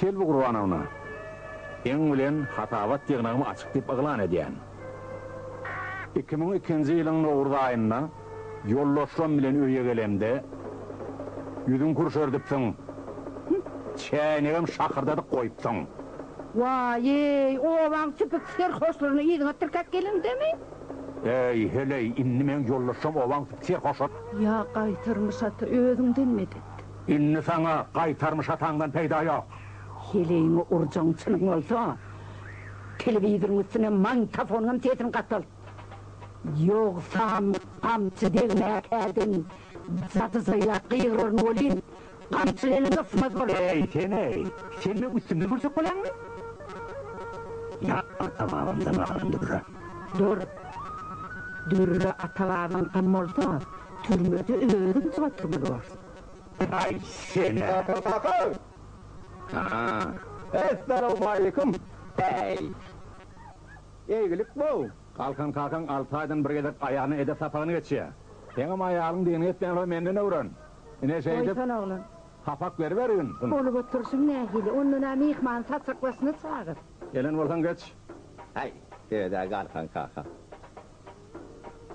Selbi Gurbanowna, Eň bilen hasabat ýygnagymy açyk diýip yglan edýän. Iki müň ikinji ýylyň nowruz aýynda, Ýoldaşlarym bilen öýe gelemde, ýüzüňi pürşerdipsiň, çäýnegem şakyrdadyp goýupsyň. Waý-eý, obaň süpük serhoşlaryny yzyňa tirkäp geliňdemi? Äý, heleý, indi meň ýoldaşlarym obaň süpük serhoşlary. Ýa gaýtarmyş ata, özüňden medet. Indi saňa gaýtarmyş ataňdan peýda ýok. Heleýiňi urjagyň çynyň bolsa, telewizoryň üstüne magnitofonyňam sesini gatalt. Ýogsam, gamçy degmäkä deň zadyzlaýlap gygyraryn welin, gamçy welin ysmaz bolar. Äý, sen-eý, sen meň üstümden gürjek bolýaňmy? Ýat ata-babamdan galan dürre. Dur. Dürre ata-babaňkam bolsa, türmede özüň çyg oturmaly borsuň. Äý, sen-ä, aksakyl! Haa. Essalawmaleýkim! Äý. Eýgilik bow! Galkan kakaň alty aýdan bir gezek aýalyna edep sapagyny geçýär. Seňem aýalyň dini etmeýän bolsa menden öwren. Ine şeýdip sapak beribergin. Bolup oturyşyň nähili? Ondan-a myhmany saçak başyna çagyr. Gelen bolsaň geç. Häý, sebed-ä Galkan kaka.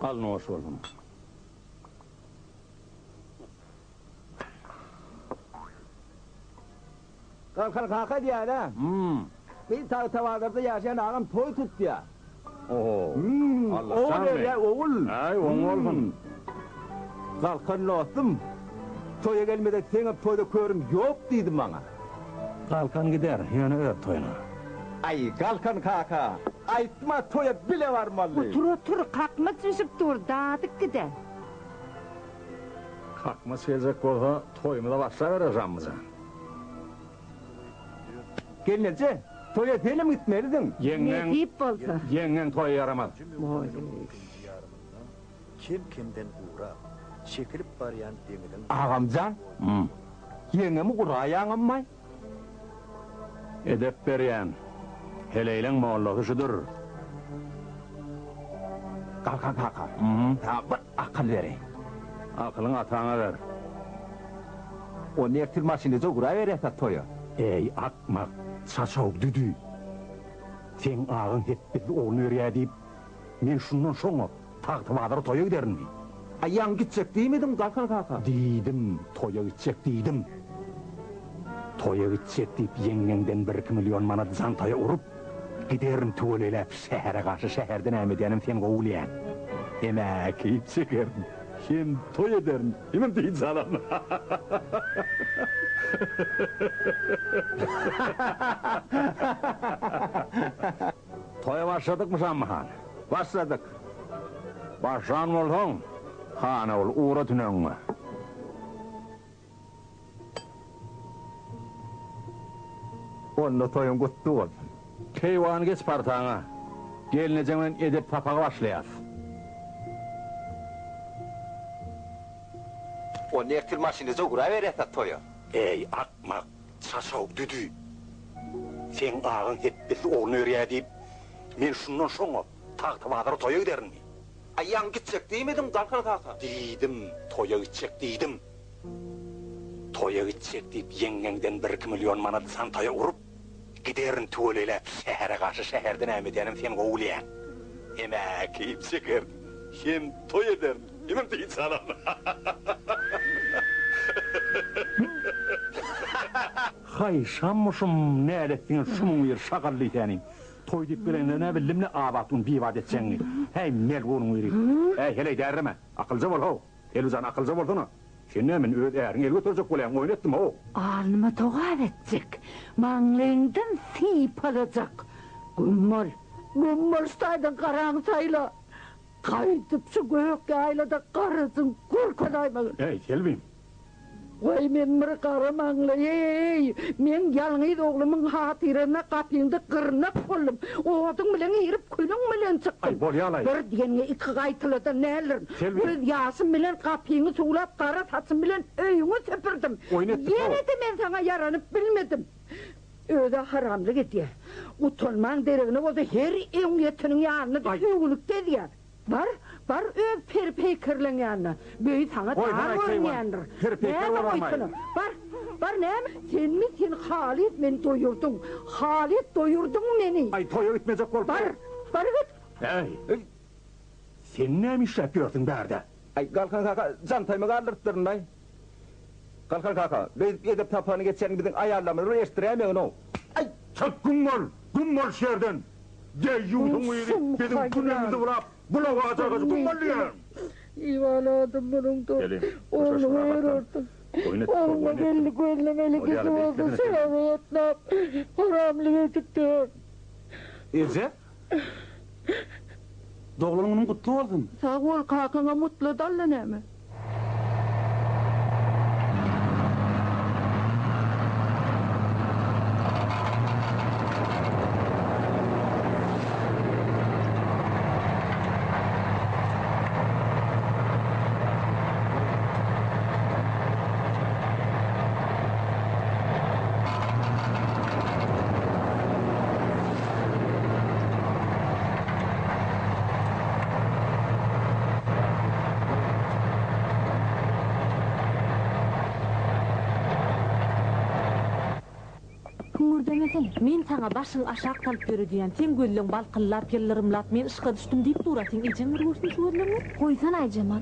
Al noş bolsun. Galkan kaka diýýän-ä. Hum. Gyz Tagtabazarda ýaşaýan agam toý tutýar. Oho. Hum. Ogul erýär, ogul. Äý, oň bolsun. Galkan dostum, toýa gelmesek seňem toýda körüm ýok diýdi maňa. Galkan gider, ýöne öz toýuna. Aý, Galkan kaka, aýtma, toýa bile barmaly. Otur, otur, kakmaç bişip dur, dadyk gide. Kakmaç geljek bolsa, toýumyza başlabereris, Ammyjan. Gelneje, toýa senem gitmelidiň. Ýeňňeň, ýeňňeň toýa ýaramaz. Kem-kemden gurak, çekilip barýan deňiziň. Agamjan, ýeňňemi guraýaňammaý? Edep berýän. Heleýleň mollasy şudur. Galkan kaka, saňa bir Akyl bereý. Akylyňy ataňa ber. Onda ertir maşynada uguraberýäs-ä toýa. Äý, akmak, çaçaw, düdü. Seň agaň hepbizli ogul berýä diýip, men şundan şoňa Tagtabazara toýa giderinmi? A ýaňy gitjek diýmediňmi, Galkan kaka? Diýdim, toýa gitjek diýdim. Toýa gitjek diýip ýeňňeňden birki million manat jantaýa urup, Giderin tüweleläp şähere garşy şäherde näme edýänem sen gowy bilýäň. Hem äkit çekerin, hem toý ederin, hemem dynç alaryn. Toýa başladykmy Şammy han? Başladyk. Başlan bolsaň, hana bol, ugra tüneňňe. Onda toýuň gutly bolsun. Keýwany geç partaňa. Gelnejeň bilen edep sapagy başlaýas. Onda ertir maşyndaja ugraberýäs a toýa. Eý, akmak, çaşaw düdü. Seň agaň hepdesi ogul berýär diýip, men şundan şoňa Tagtabazara toýa giderinmi? Aýagyň gitjek diýmediňmi, Dalkan kaka? Diýdim, toýa gitjek diýdim. Toýa gitjek diýip ýeňňeňden bir-iki million manady santaýa urup, giderin tüweleläp şähere garşy şäherde näme edýänem sen gowy bilýäň. Hemä keýp çekerdim. Hem toý ederdim. Menem dynç alardym. Haý, şammuşum, nälet diňe şunuň biri şagally seni. Toý diýip gelenine nä bildim-le, Abatguny bibat etjegiňi. Häý, melgunyň biri. Häý, heleý därreme. Akylja bol-how. Elwijan akylja bolsana. Sen näme öz äriňe el göterjek bolýaň oýun etdim how. Alnyma togap etjek, maňlaýyňdan sypalajak. Güm bol. Güm bol şu taýdan garaňy saýla. Gaýdyp şu gök ýaýlada garajyň görkezäýmegin. Äý Selbim. Waý men bir gara maňlaý-eý! Meň ýalňyz oglumyň hatyryna gapyňda gyrnak boldum. Oduň bilen girip, külüň bilen çykdym. Bir diýeniňe iki gaýtaladan nälerin. Göz ýaşym bilen gapyňy suwlap, gara saçym bilen öýüňi süpürdim. Ýene-de men saňa ýaranyp bilmedim. Özi-ä haramlyk edýär. Gutanmaň deregine bolsa her öň ýeteniň ýanyna düşüp öwünip gezýär. Bar, bar öz peri-peýkerleň ýanyna. Böýi saňa dar görünýändir. Näme goýsana. Bar, bar näme? Senmi sen halys meni doýurdyň. Halys doýurdyň meni. Aý, toýa gitmejek bolup. Bar, bar git. Äý, eý. Sen näme işläp ýörsüň bärde? Aý, Galkan kaka, jantaýymy galdyrypdyryn-laý. Galkan kaka, beýdip edep sapagyny geçýäniňi biziň aýallarymyz bir eşdiräýmegin-ow. Aý, çalt güm bol, güm bol şu ýerden! Deýýusyň yzy biziň günümizi bulap, bulawajagajy güm bol diýýän! Iwalady munyň-da. Gelin, hoşlaşmaga gatlan. Oýun etdik, hol oýun etdim. Ogluň gelni gözlemeli gyzy bolsa şeýle ýatnap, haramlyk edipdir. Eje, Doglan günüň gutly bolsun. Sag bol kakaňa mutla dalla näme. Hüňürdemesene, men saňa başyňy aşak salyp ýöre diýýän, seň gözleň balkyllap, ýyllyrymlap, men yşka düşdüm diýip durasyň, ejeň bir görsün şu gözleňi. Goýsana Aýjemal,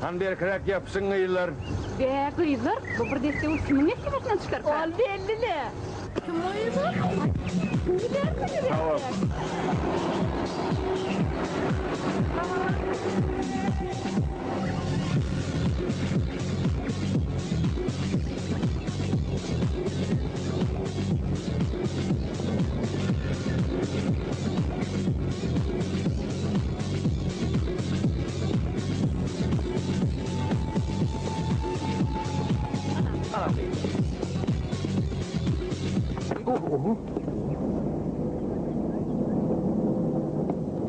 Hany berkiräk ýapyşyň gyzlar. Bä gyzlar bu bir desse bolup kimiň mertebesinden çykarka. Ol bellile. Kim oýy bu? Kim därsini berýär?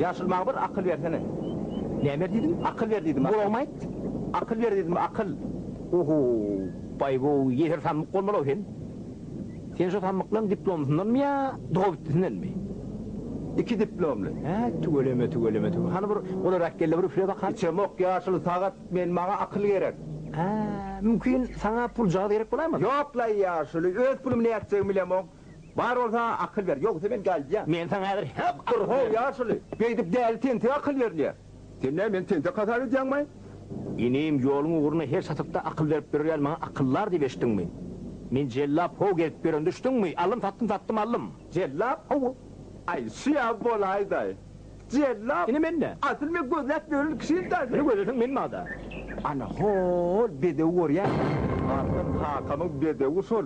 Ýaşyl maňa bir akyl bersene. Näme ber diýdim? Akyl ber diýdim. Gulagyma aýt. Akyl ber diýdim, akyl. Ohoo, baý-bow, ýeser samsyk bolmaly-ow sen. Sen şu samyklaň diplomysyndanmy ýa dogabitdisindenmi? Iki diplomly. Hä, tüweleme, tüweleme, tüweleme. Hany bir golarak gel-de bir üfle bakaý. Içemok ýaşyl sagat men, maňa akyl gerek. Hä, mümkin, saňa puljagaz gerek bolaýmasyn? Ýok-laý ýaşyl, öz pulumy nätjegimi bilemok. Bar bolsa akyl ber, ýogsa men galýan. Men saňa häzir hep akyl berjek. Dur-how ýaşyl, beýdip däli tentige akyl berilýär. Sen nä, meni tentek hasap edýäňmi? Inim, ýoluň ugruna her çatrykda akyl berip ýörýän maňa akyldar diýip eşitdiňmi? Men jellap how gezip ýörende düşdüňmi? Aldym, satdym, satdym, aldym. Jellap how? Aý, şu ýaly bolaýda-aý. Jellap? Ine men nä? Asyl men gözläp ýören kişim daş. Ine gözleseň men bada. Ana, hol bedewi görýäňmi? Asyl kakamyň bedewi şol.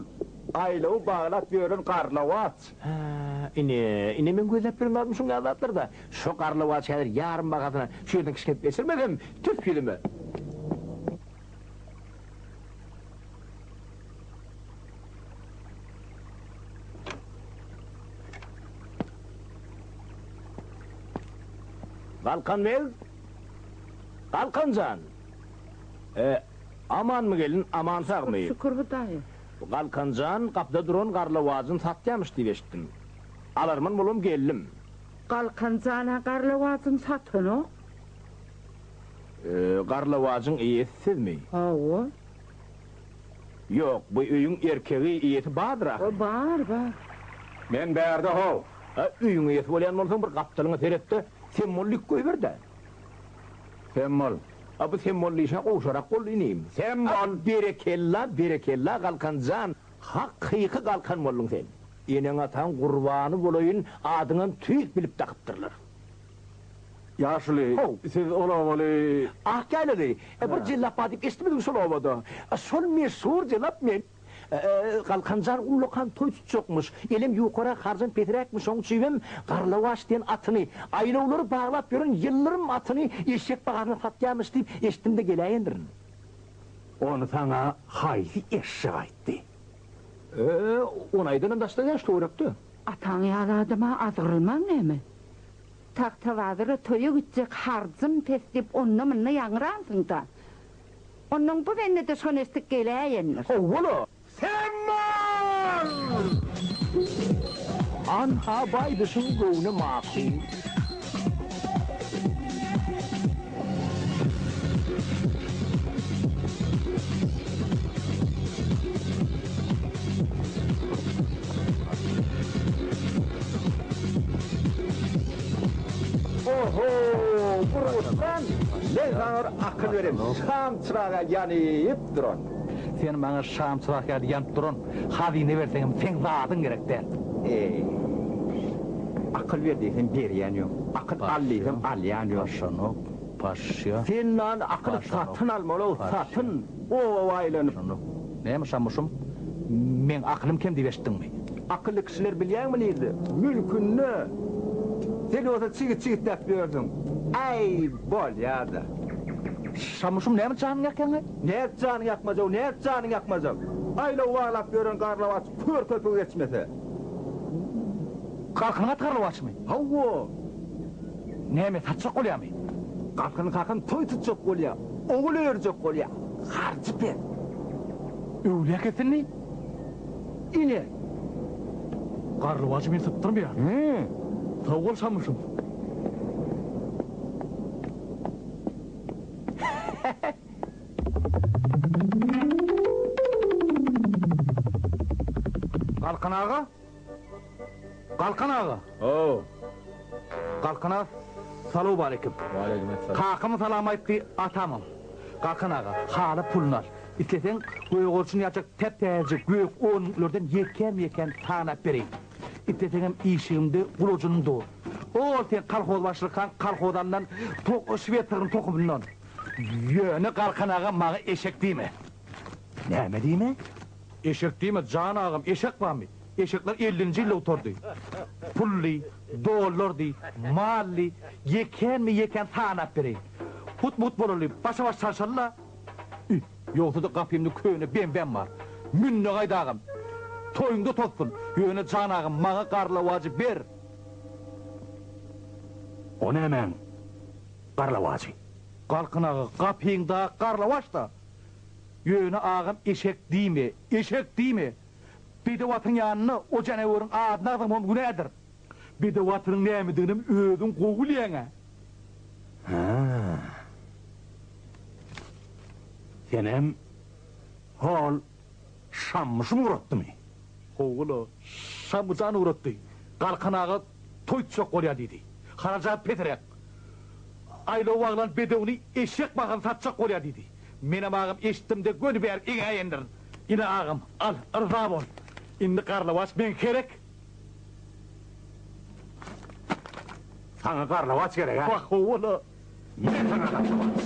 Aýlawy baglap ýören garlawaç. Hä, ine, ine men gözläp ýören zadym şuňňä zatlar-da. Şo garlawaz häzir ýarym bahasyna şu ýerden kişňep geçirmesem, tüf ýüzüme! Galkan beg! Galkan jan! E, amanmy gelin, aman-sagmy? Şükür Hudaýa. Galkan jan, gapyda duran garlawajyny satýamyş diýip eşitdim. Alarman bolam geldim. Galkan jan-a garlawajyny satanok. Garlawajyň eýesi sizmi? Hawa. Ýok, bu öýüň erkegi, eýesi bardyr ahyry. Bar, bar. Men bärde-how. A, öýüň eýesi bolýan bolsaň, bir gapdalyňa seret-de, semmol dik goýber-dä. Semmol, A bu sen boldy işe gowşarak boldy inim. Sen bol. Berekella berekella Galkanjan hak kyky Galkan bolduň sen. Eneň ataň gurbany bolaýyn adyňam tüýs bilip dakypdyrlar. Ýaşuly How. siz ol obaly. Akýaýlaly. E bir jellap bar diýip eşitmedim şol obada. Şol meşhur jelap men. Galkanjan ullakan toý tutjakmyş. Elem ýukarak, harjam pesiräkmiş, şoň üçibem Garlawaç diýen atyny, aýlawlary baglap ýören ýyldyrym atyny eşek bahasyna satýarmyş diýip eşitdim-de geläýendirin. Ony saňa haýsy eşşek aýtdy? Ö, ony aýdanam daşda däl, şu töwerekde. Ataň ýaly adama azgyrylmaň näme? Tagtabazyra toýa gitjek harjym pes diýip onda-munda ýaňyransyň-da. Ondan bu bendede şon eşdik geläýendir. Owwala, sen mal! Anha baýdyşyň göwni makul. Oho! Burgutdan men saňa bir akyl bereýin. Şam çyragy ýaly ýanyp duran. Sen maňa şam çyragy ýaly ýanyp duran hazyna berseňem seň zadyň gerek däl. Eý! Akyl ber diýsem berýän ýok. Akyl al diýsem alýan ýok. Paşşanok, paşşa. Sen maňa akyly satyn almaly, satyn. Gowy aýlanyp. Näme şamuşym, meň akylym kem diýip eşitdiňmi? Akylly kişiler bilýäňmi nirde? Mülkünde. Sen bolsa çigit-çigitläp ýörsüň. Äý, bolýa-da. Şamuşym, näme janyňy ýakýaň-aý? Nädip janyňy ýakmajak, nädip janyňy ýakmajak? Aýlaw baglap ýören garlawaç kör köpügi geçmese. Galkynyň aty garlawaçmy? Hawa. Näme, satjak bolýamy? Galkyny kakam toý tutjak bolýa. Ogul örjek bolýar, harjy pes. Öwlekesini ine Garlybajy men sypdyrmaýan. Sag bol Şamyşym. Galkan aga! Galkan aga! Ho-o! Galkan aga, salowmaleýkim! Waleýkim essalam! Kakam salam aýtdy, atamam. Galkan aga, haly puluny al. Isleseň, gögerçin ýaljak täp-täze gök onluklardan ýekän-ýekän sanap bereýin. Isleseňem işigimde gulaçynym dur. Ol seň kolhozbaşylykaň kolhoz alnan tok şwed sygyryň tohumyndan. Ýöne Galkan aga maňa eşek diýme. Näme diýme? Eşek diýme, jan agam, eşek barmy? Eşekler ellinji ýylda gutardy. Pully, dollardy, mally, ýekänmi ýekän sanap bereýin. Hut-but bolaly, başa-baş çalşaly-la. Üý, ýogsa-da gapymda köne bembäm bar. Mün-de gaýt agam. Toýuňda tozsun. Ýöne, jan agam, maňa garlawajy ber. O nämäň garlawajy? Galkyn aga, gapyňda garlawaç-da. Ýöne agam eşek diýme, eşek diýme! Bedew atyň ýanynda o janaweriň adyny agzamagam günädir. Bedew atynyň nämediginem özüň gowy bilýäň-ä. Hä. Senem hol Şamyşyň ugratdymy? Hawa-la, Şamyjan ugratdy. Galkan aga toý tutjak bolýar diýdi. Harajat peseräk. Aýlaw baglan bedewini eşek bagan satjak bolýar diýdi. Menem agam eşitdim-de göni bäri eňä endirin. Ine agam, al, yrza bol. Indi garlawaç meň kerek. Saňa garlawaç gerek-ä? Wah, ho-ola! Ine saňa garlawaç.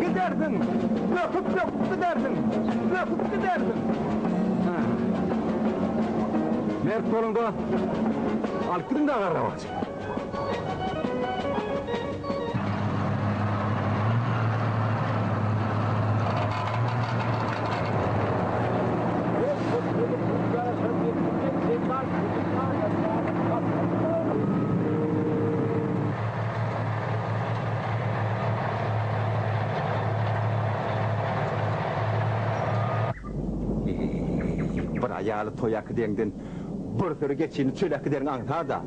Gidersiň, böküp-böküp gidersiň, böküp gidersiň. Mert boluň dost. Alyp gidiň daga arabasy. Bir aýaly toýa äkideňden bir süri geçini çöle äkideriň aňsada.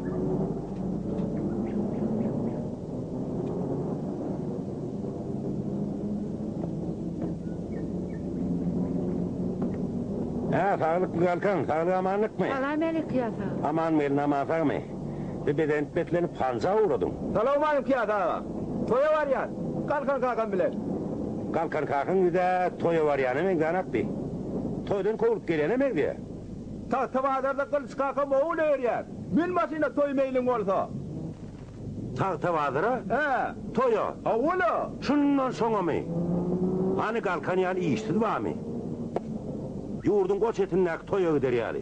Hä, saglykly galkaň, saglyk-amanlykmy? Salam-äleýk, ýa sag. Amanmy, elin-aman sagmy? Bi bezenip-beslenip hanja ugradym. Salawmalik Ýaz aga! Toýa barýan, Galkan kakam bilen. Galkan kakaň ýüz-ä toýa barýana meňzänokdy. Toýdan kowlup gelýäne meňzeýä. Tagtabazarda Gylyç kakam owul öýerýär. Mün maşyna toý meýliň bolsa. Tagtabazara? Hä. Toýa? Hawa-la. Şundan soňamy? Hany Galkan ýaly işsiz barmy? Ýurduň goç etindäki toýa gider ýaly.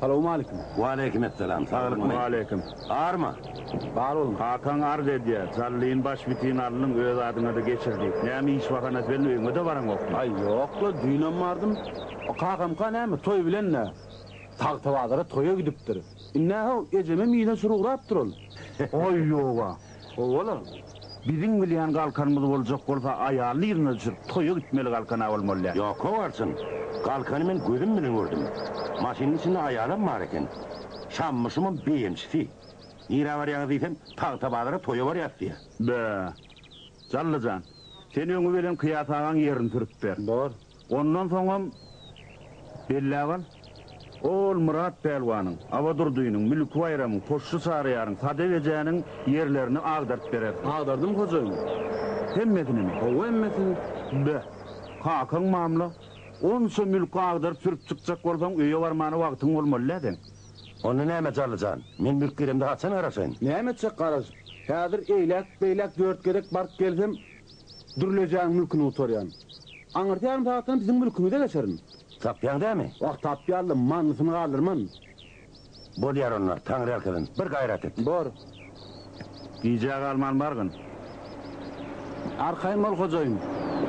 Salowmaleýkim. Waleýkim essalam. Saglykmy? Waleýkim. Barmy? Bar boluň. Kakaň arz edýär, Jallyn baş bitin alnyň, öz adyňa-da geçir diýip. Näme iş bahanasy bilen öýüňe-de baraňokmy? Aý, ýok-la, düýnem bardym. O kakamka näme, toý bilen-dä. Tagtabazara toýa gidipdir. Indi-ä, how, ejemem yza çür ugrapdyr ol. Aý, ýoga. Owalam, biziň bilýän galkanymyz boljak bolsa, aýalyny yzyna düşürip, toýa gitmeli galkan-a bolmalydä. Ýok-ow, Arçyn, galkany men gözüm bilen gördüm. Maşynyň içinde aýalam bar eken. Şammyşymam beýemçisi. Nirä barýaňyz diýsem, Tagtabazara toýa barýas diýýär. Bö! Jalla jan, sen öňi bilen Kyýas agaň ýerini sürüp ber. Bor, Ondan soňam belläp al, ol Myrat pälwanyň, Abadurdynyň, Mülki Baýramyň, Poşşy Çaryýaryň, Sadek ejäniň ýerlerini agdaryp berer. Agdardym, hojaýyn. Hemmesinimi? Hawa, hemmesini. Be, kakaň mamla. Onça mülki agdaryp sürüp çykjak bolsaň, öýe barmana wagtyň bolmaly-dä seň. Onda näme, Jarly jan, men mülk giremde haçan garaşaýyn? Näme etjek garaşyp? Häzir eýläk-beýläk dört gezek baryp gelsem, Dürlejäň mülküni gutarýan. Aňyrdýaryn sagatdan biziň mülkümize geçerin. Tapýaň dämi? Wah, tapýarlym, manysyny galdyrman. Bolýar onda, Taňryýalkasyn, bir gaýrat et. Bor. Gijä galman bargyn. Arkaýyn bol, hojaýyn.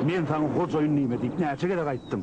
Men saňa hojaýyn diýme diýip näçe gezek aýtdym.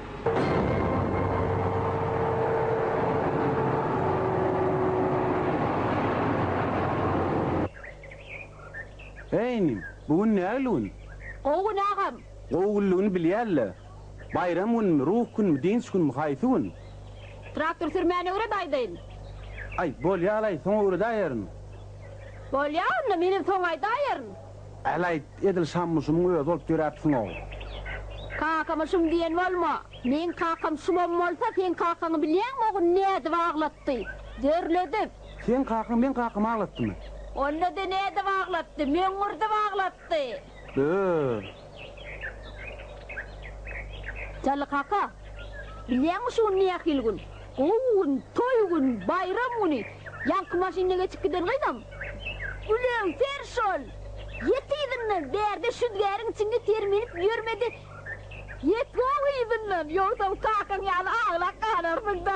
Eý inim, bu gün nägile gün? Gowy gün agam. Gowy günligini bilýäl-le. Baýram günmi, ruh günmi, dynç günmi, haýsy gün? Traktor sürmäni öwret aýdaýyn. Aý, bolýa-laý, soň öwredäýerin. Bolýa onda, menem soň aýdaýerin. Ähli aýt, edil Şammyşymyň özi bolup döräpsiň-ow. Kakamyşym diýen bolma! Meň kakam Şumam bolsa, seň kakaňy bilýäňmi o gün nädip aglatdy? Dörledip! Seň kakaň meň kakamy aglatdymy? Onda-da nädip aglatdy? Möňňürdip aglatdy! Öö! Jally kaka, bilýäňmi şu gün nähili gün? Gowy gün, toý gün, baýram güni. Ýaňky maşynda geçip giden gyzam, Gülegser şol! Ýet yzyndan, bärde şüzgäriň içinde ter minip ýörmedi. Ýet gowy yzyndan, ýogsam kakaň ýaly aglap galarsyň-da.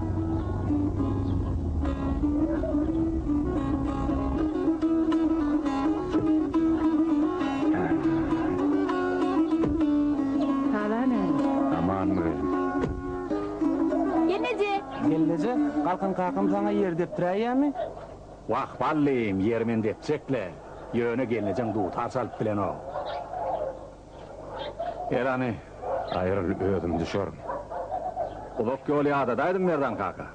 Galkan kakam saňa ýer depdiräýýärmi? Wah, ballym, ýeri men depjek-le. Ýöne gelnejeň dutar çalyp bilenok. Elany, aýryl, özüm düşerin. Uzak ýol ýadadaýdym, Merdan kaka.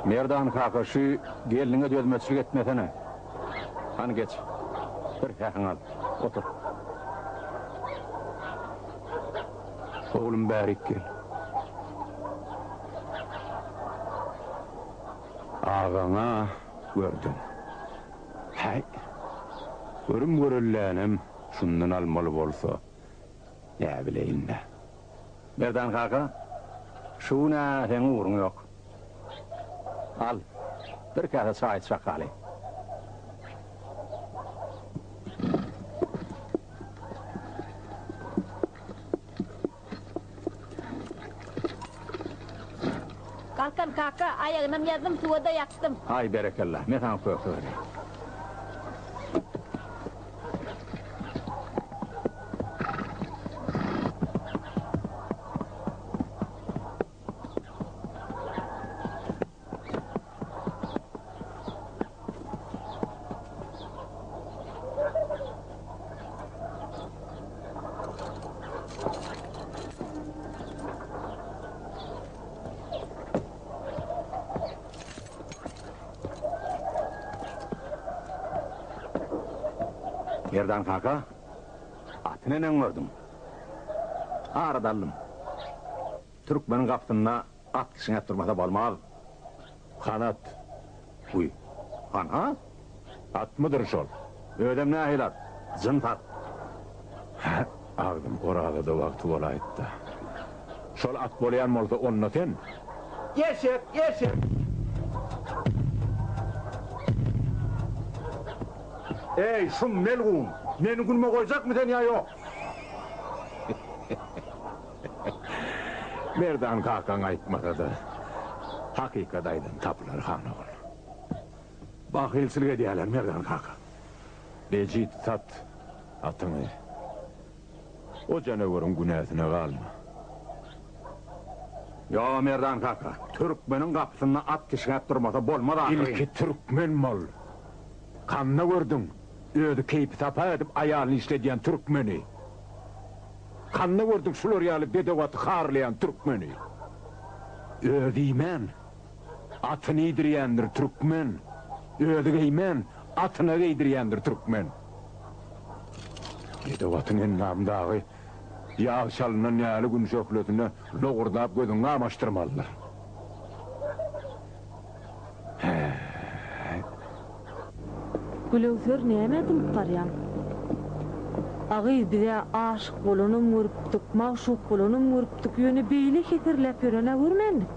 Merdan kaka, şu gelniňe dözmeçlik etmesene. Hany geç, bir sähiň al, otur. Oglum, bärik gel. agaň-a gördüň. Häý, görüm-görellänem şundan almaly bolsa, näbileýin-dä. Merdan kaka, şu gün-ä seň ugruň ýok. Al, bir käse çaý iç bakaly. Galkan kaka, aýagynam ýazdym, suwa-da ýapdym. Aý, berekella, men saňa köke bereýin. Merdan kaka, aty neneň gördüň? Ara daldym. Türkmeniň gapysynda At kişňäp durmasa bolmaz. Hanat. Guý. Hanha? Atmydyr şol? Özem nähili at? Jyns at. Hä, agzym Orazada wagty bolaýypdy. Şol at bolaýan bolsa, onda sen. Eşek, eşek! Eý, şum melgun! Meni günüme goýjakmy sen ýa ýok? Merdan kakaň aýtmasa-da, hakykat aýdan tapylar, han ogul. Bahylçylyk edýärler, Merdan kaka. Bejit, sat atyňy. O janaweriň günäsine galma. Ýo, Merdan kaka, türkmeniň gapysynda at kişňäp durmasa bolmaz ahyryn. Ilki türkmen bol. Kanda gördüň, özi keýpi-sapa edip aýalyny işledýän türkmeni. Kanda gördük şular ýaly bedewaty harlaýan türkmeni. Özi iýmän, atyny iýdirýändir türkmen, özi geýmän, atyna geýdirýändir türkmen. Bedewatyň endamdagy ýag çalynan ýaly gün şöhlesine lowurdap gözüňi gamaşdyrmalydyr. Gülöwser nämä dymyp garýaň. A gyz bizä aşyk bolanam görüpdik, magşuk bolanam görüpdik, ýöne beýle heserläp ýörenä görmändik.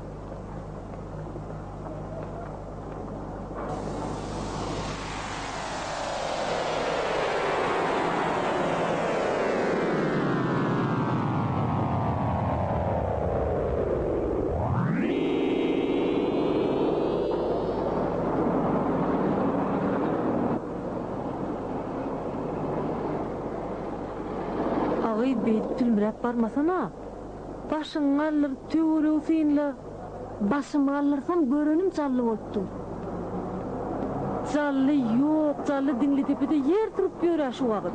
Agy beýdip sülmüräp barmasana. Başyňy galdyr, töweregi synla. Başymy galdyrsam, görenim Jally bolup dur. Jally ýok, Jally Diňlidepede ýer turup ýör-ä şu wagt.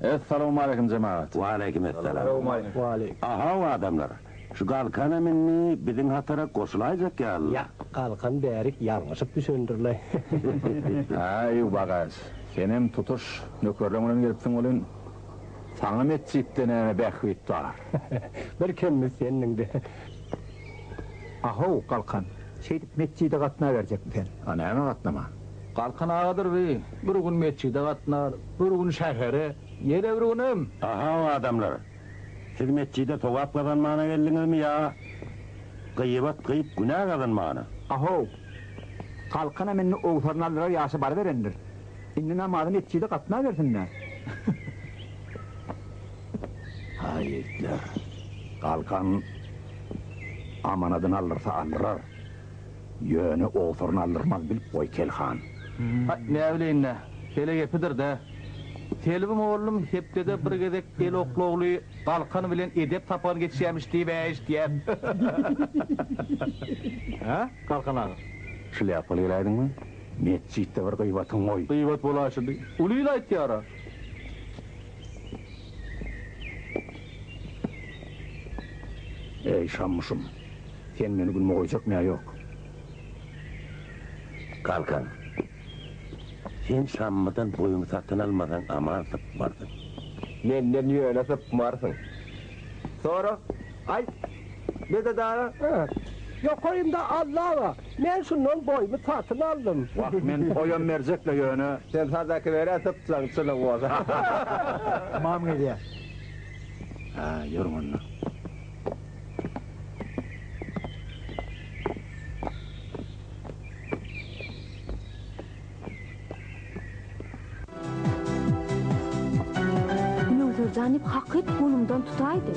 Essalawmaleýkim jemagat. Waleýkim essalam. Ahaw adamlar, şu galkanam indi biziň hatara goşulaýjak ýaly. Ýak, galkan bärik ýalňyşyp düşendirle. Häý, Wagaş, senem tutuş nökerleň bilen gelipsiň welin, saňa metjitde näme bähbit bar? Bir kemimiz sendiň-de. Ahaw, galkan, şeýdip metjide gatnaberjekmi sen? A näme gatnaman? Galkan agadyr bi bir gün metjide gatnar, bir gün şähere, ýene bir günem. Ahaw adamlar! Siz metjide sogap gazanmana geldiňizmi ýa gyýbat gyýyp günä gazanmana? Ahaw! Galkanam indi owsaryny aldyrar ýaşy baryberendir. Indi namazy metjide gatnabersin-dä! Haý ýigitler! Galkan amanadyny aldyrsa aldyrar. Ýöne owsuryny aldyrmaz, bilip goý, Kel han. Haý, näbileýin-dä, hele gepidir-dä. Selbim oglum hepdede bir gezek el oklagly Galkan bilen edep sapagyny geçýämiş diýib-ä eşitýän. Hä, Galkan aga? Şlýapaly geläýdiňmi? Metjitde bir gyýbatyň goý. Gyýbat bolaýşydy. Uly il aýtýar-a. Eý, Şammuşym! Sen meni günüme goýjakmy ýa ýok? Galkan, sen Şammydan boýuňy satyn almasaň aman sypmarsyň. Menden ýöne sypmarsyň. Sora, aýt, bede dagy? Ýokarymda Alla bar, men şundan boýumy satyn aldym. Wah, men boýam berjek-le ýöne. Sen sadaka ber-ä sypsaň çyny bolsa. Mam gelýär. Hä, ýörüň onda. Möwserjanyp hak et golumdan tutaýdy.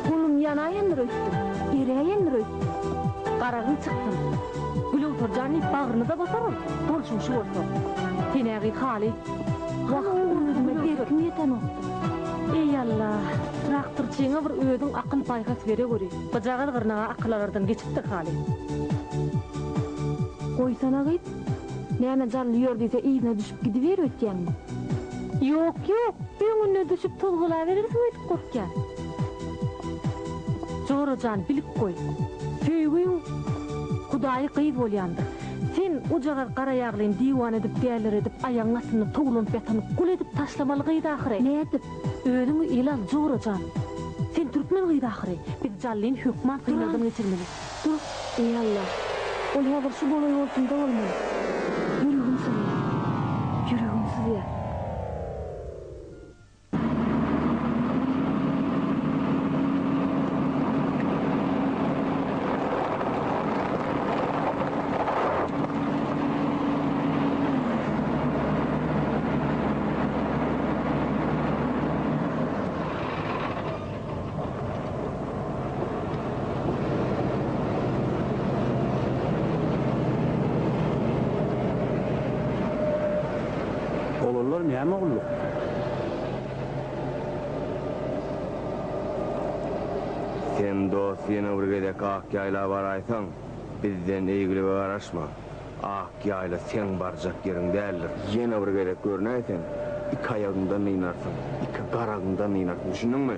Golum ýanaýandyr öýtdüm, eräýendir öýtdüm. Garagyn çykdym. Glöwserjanyp bagryny-da basar ol, bolşuň şu bolsa. Senägi haly. Wah, özüme berkim ýetenokdy. Eý Alla! Traktorçyňa bir özüň akyl paýhas bere göri. Gyjagaz gyrnaga akyl alardan geçipdir haly. Goýsana gyz. Näme jally ýör diýse yzyna düşüp gidiber öýtýäňmi? Ýok, ýok. Öňüne düşüp tozgalaberersiň öýdüp gorkýan. Jora jan bilip goý. Söýgiň Hudaýy gyz bolýandyr. Sen ojagaz garaýaglyn diwan edip dälleredip aýagyň astynda towlanyp ýatan gul edip taşlamaly gyz ahyry. Nädip? Özüňi ele al Jora jan. Sen türkmen gyzy ahyry, biz Jallyn hökman synagdan geçirmeli. Dur, eý Alla! Ol häzir şu golaý bolsunda bolmaly. Ýüregim syzýar. Ýüregim syzýar. Olanlar näme gulluk? Sen dost ýene bir gezek Akýaýla baraýsaň, bizden eýgilige garaşma. Ak ýaýla seň barjak ýeriň däldir. Ýene bir gezek görnäý sen, iki aýagyňdan dynarsyň, iki garagyňdan dynarsyň, düşündiňmi?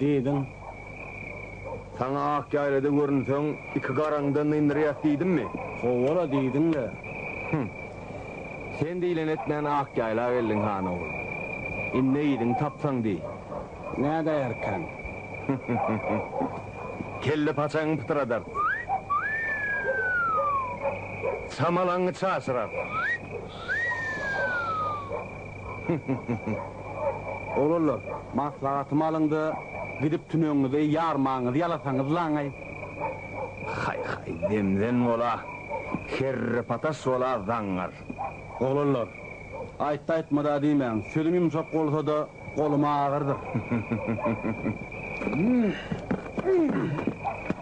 Diýdiň. Saňa ak ýaýlada görünseň, iki garaňdan nynyrýas diýdimmi? Hawa-la, diýdiň-le. Hüň. Sen diýleni etmän ak ýaýla geldiň, han ogul. Indi yzyňy tapsaň diý. Nädäýerkäň? Kelle paçaňy pytradarys. Çamalaňy çaşyrarys. Hyh-hyh-hyh-hyh. Oglanlar, maslahatymy alyň-da, gidip tünegiňizi ýarmagyňyzy ýalasaňyzlaň-aý. Haý-haý, zemzen bol-a, kerrepataş bol-a, zaňňar. Oglanlar, aýtdy-aýtmady-a diýmäň, sözüm ýumşak bolsa-da, golum agyrdyr. Hyh-hyh-hyh-hyh-hyh. Hyh-hyh-hyh-hyh-hyh.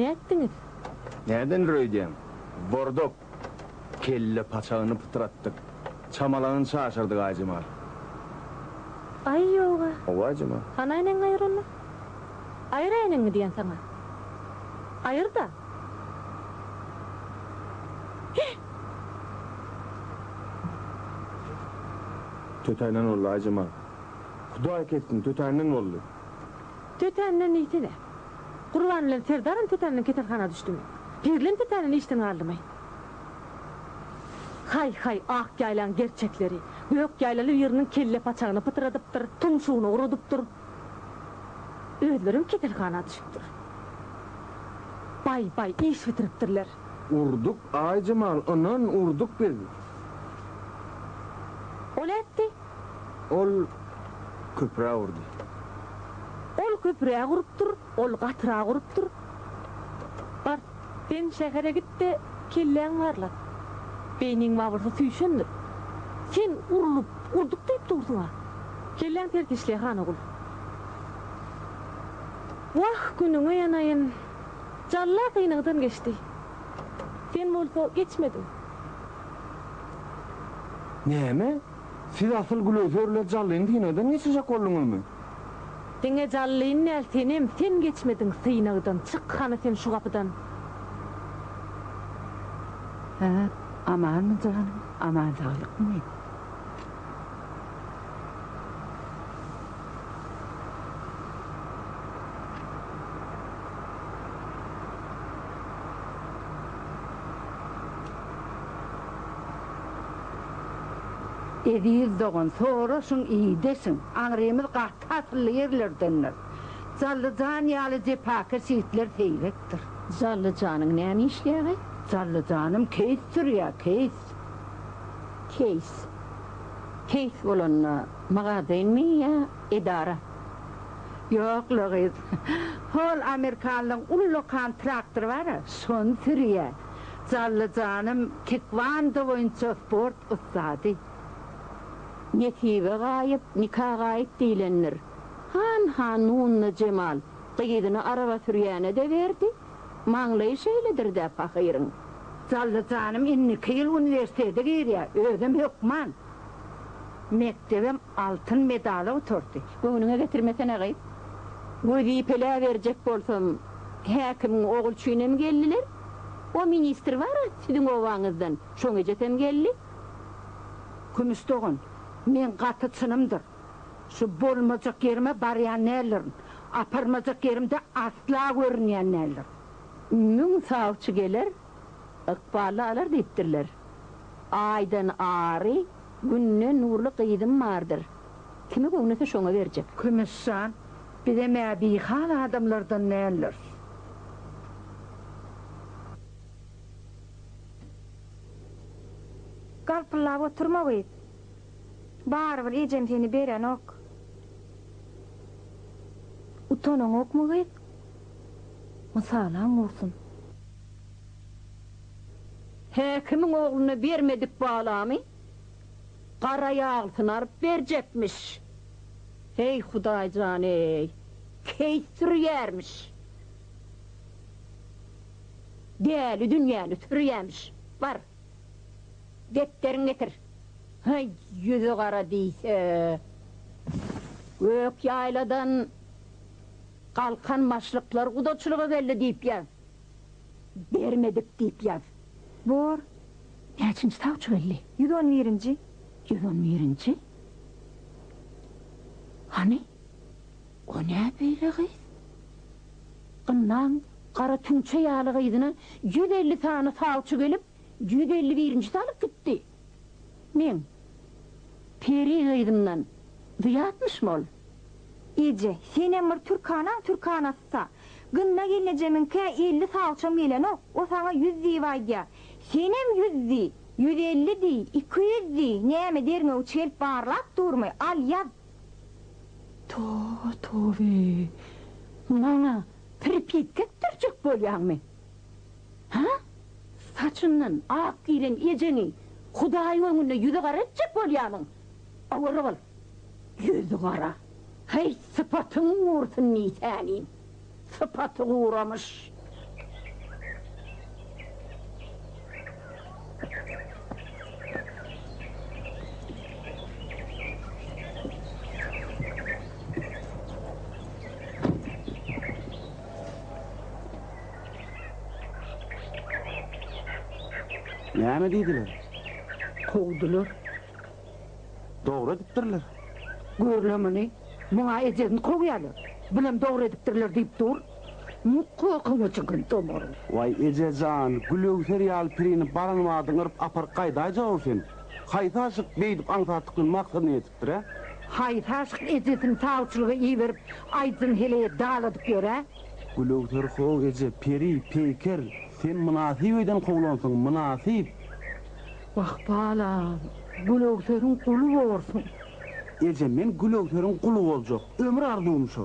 Nätdiňiz? Nädendir öýdýäň? Bordop. Kelle paçagyny pytratdyk. Çamalaňyny çaşyrdyk, Aýjemal. Aý, ýog-a. Hawa, Aýjemal. Hany äýnegiňi aýyr onda. Aýyr äýnegiňi diýen saňa. Aýyr-da. Heh! Tötänden boldy, Aýjemal. Hudaý kessin, tötänden boldy. Tötänden diýsene. Gurban bilen Serdaram tetänden keselhana düşdümi? Perilem tetänden işden galdymy? Haý-haý, ak ýaýlaň gerçekleri! Gök ýaýlaly biriniň kellepaçagyny pytyradypdyr, tumşugyny urudypdyr. Özlerem keselhana düşüpdir. Baý-baý, iş bitiripdirler. Urduk, Aýjemal, ynan, urduk biz. Ol ätdi. Ol köpüräk urdy. Ol köpüräk urupdyr, ol gatyrak urupdyr. Bar, sen şähere git-de, kelläňi barlat. Beýniň babyrsy süýşendir. Sen urlup, urduk diýip dursuň-a. Kelläň ters işleýär, Hanogul. Wah, günüňe ýanaýyn. Jalla synagdan geçdi. Sen bolsa geçmediň. Näme? Siz asyl glöserler jallyn synagdan geçirjek bolduňyzmy? Diňe jallyn däl senem sen geçmediň synagdan çyk hany sen şu gapydan. Hä amanmy janym aman saglykmy. Eziz dogan, soraşyň, ideşiň, aňrymyz gaty asylly ýerlerdendir. Jally jan ýaly jepakeş ýigitler seýrekdir. Jally janyň näme işleýäge? Jally janym keýs sürýä, keýs. Keýs. Keýs bolanda magazinmi ýa edara? Ýok, Logyz. Hol amerikanlyň ullakan traktory bar-a, şony sürýä. Jallyjanym taekwondo boýunça sport ussady. Nesibe gaýyp, nika gaýyp diýlendir. Han han Nunna Jemal gyzyny araba sürýäne-de berdi. Maňlaýy şeýledir-dä pahyryň. Jallyjanym indiki ýyl uniwersitete girýär, özem hökman. Mekdebem Altyn medala oturdy. Göwnüňe getirmesene gyz. Wezipeläberjek bolsam, häkimiň Ogulçynem geldiler. O ministr bar-a siziň obaňyzdan, şoň ejesem geldi. Kümüş dogan, meň gaty çynymdyr. Şu bolmajak ýerime barýan däldirin. Aparmajak ýerimde asla görünýän däldirin. Müň sawçy geler, Ykbally alar diýipdirler. Aýdan ary, Günden nurly gyzym bardyr. Kime göwnese şoňa berjek. Kümüş jan, bizem-ä bihal adamlardan däldiris. Galpyllap oturma gyz. Barybir ejeň seni berenok. Utanaňokmy gyz? Mysalaň bolsun. Häkimiň ogluna bermedik balamy gara ýaglysyny alyp berjekmiş. Heý Hudaýjan-eý, keýs sürýärmiş. Däli dünýäni sürýämiş. Bar, depderiňi getir. Heý, ýüzi gara diýse. Gök ýaýladan. Galkan başlyklar gudaçylyga geldi diýip ýaz. Bermedik diýip ýaz. Bor, näçinji sawçy geldi? Ýüz on birinji. Ýüz on birinji? Hany, o nä beýle gyz? Gynnaň, gara tüňçe ýaly gyzyna ýüz elli sany sawçy gelip, ýüz elli birinjisi alyp gitdi. Men, Peri gyzymdan zyýatmyşmy ol? Eje, senem bir türkanaň türkanasy-sa. Gynna gelnejemiňkä elli salçam gelenok, o saňa ýüz diýip aýdýar. Senem ýüz diý, ýüz elli diý, iki ýüz diý, näme derňewçi gelip barlap durmy? Al, ýaz! Toba-tobe! Maňa pirpitgek dürjek bolýaňmy? Hä? Saçyndan ak giren ejeňi Hudaýyň öňünde ýüzügara etjek bolýarmyň? Owara bol! Ýüzügara! Heý, sypatyň gursyn diý säniň! Sypaty guramyş! Näme diýdiler? Kowdular. Dogry edipdirler. Gör-le muny, muňa ejesini kowýarlar, bulam dogry edipdirler diýip dur. Mugt kokyňa çykan tomar. Waý, eje jan, gülöwser ýaly pirini baran badyň yryp aparyp gaýdaýjag-ow sen. Haýsy aşyk beýdip aňsatlyk bilen maksady-niýet? Bire. Haýsy aşyk ejesini sawçylyga iberip, aýdyjyny heleýe daladyp ýör-ä? Gülöwser How eje, peri, peýker, sen mynasyp öýden kowlansyň, mynasyp! Wah, balam, Gülöwseriň guly borsuň! Eje, men Gülöwseriň guly boljak, ömür arzuwym şo!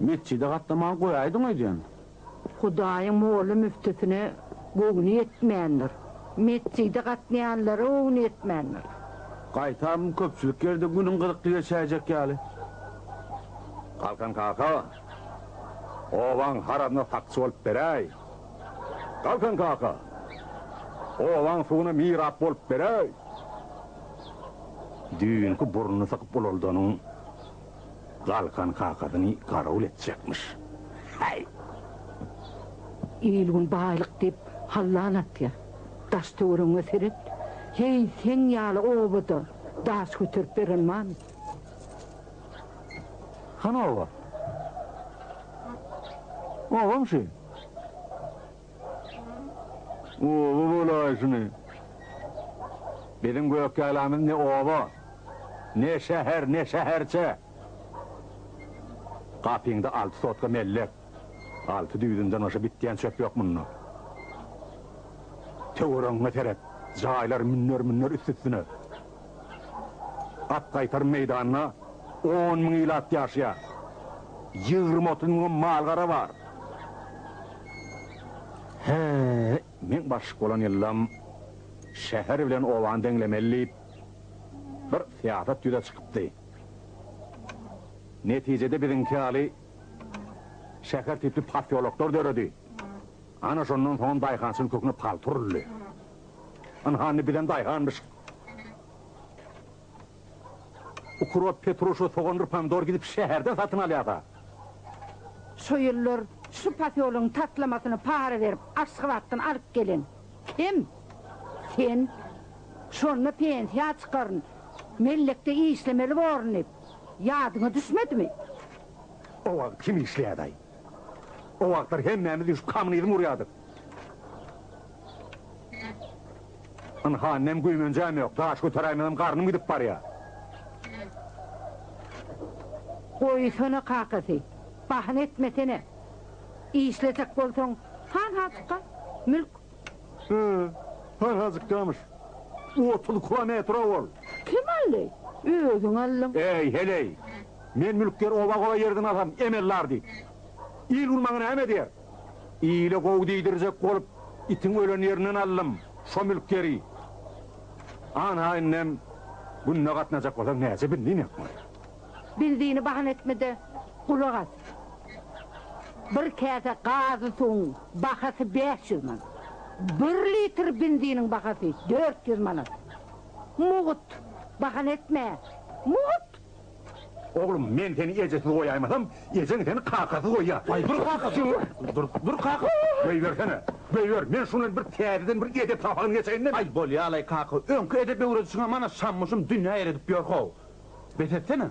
Metjide gatnamagy goýaýdyň öýdýän. Hudaýyň molla müftüsine göwni ýetmändir. Metjide gatnaýanlara göwni ýetmändir. Gaýtam köpçülik ýerde günüň gyzykly geçäýjek ýaly. Galkan kaka, obaň harazyna sakçy bolup beräý. Galkan kaka, obaň suwuna mirap bolup beräý. Düýnki burnuny sykyp ulaldanyň. Galkan kakasyny garawul etjekmiş. Äý! Il-gün baýlyk diýip hallan atýar. Daş-töweregiňe seret. Heý, seň ýaly obada daş göterip beren barmy? Hany oba? Obamy şu? Oba bolaýşyny. Biziň Gökýaýlamyz ne oba, ne şäher, ne şäherçe. Gapyňda alty sotka mellek, alty düýbünden başga bitýän çöp ýok munda. Töweregiňe seret, jaýlar münner-münner üst-üstüne. At gaýtarym meýdanda on müň ilat ýaşaýar. Ýigrimi-otuz müňem mal-gara bar. Hä, meň başlyk bolan ýyldam şäher bilen obany deňlemeli diýip, bir syýasat ýüze çykypdy. Netijede biziňki ýaly şäher tipli posýoloklar döredi. Ana, şondan soňam daýhançylyk köküne palta uruldy. Ynha, indi bizem daýhanmyşyk. Ukrop, petruşa, sogandyr pomidor gidip şäherden satyn alýas-a. Şu ýyllar şu posýologyň taslamasyny para berip Aşgabatdan alyp gelen kim? Sen. Şonda pensiýa çykaryn, mellekde işlemeli borun diýip, ýadyňa düşmedimi? O wagt kim işleýärdi-aý? O wagtlar hemmämiz üýşüp kommunizm gurýardyk. Ynha, indem güýmenjäm ýok. Daş göteräýmesem garnym gidip barýar. Goýsana kakasy, bahana etmesene. Işlejek bolsaň, hanhajykka mülk. Hä, hanhajykkamyş. Otuz kilometr-ow ol. Kim aldy? Özüň aldyň. Eý, heleý! Men mülkger oba-gola ýerden alsam, emellar diýip, il bilmegä näme diýer? Ile gowy diýdirjek bolup, itiň ölen ýerinden aldym şo mülk ýeri. Ana, indem günde gatnajak bolsaň, näçe benzin ýakmaly? Benzini bahana etme-de, gulak as. Bir käse gazy suwuň bahasy bäş ýüz manat. Bir litr benziniň bahasy dört ýüz manat. Mugt, bahana etme. Mugt! Oglum, men seni ejesiz goýaýmasam, ejeň seni kakasyz goýýar. Aý, dur kaka, dur! Dur, dur kaka! Goýbersene! Goýber, men şuny bir täzeden bir edep sapagyny geçeýin-de! Aý, bolýar-laý kaka, öňki edep öwredişiňem ana şammuşum dünýä ýeredip ýör-how! Bes etsene!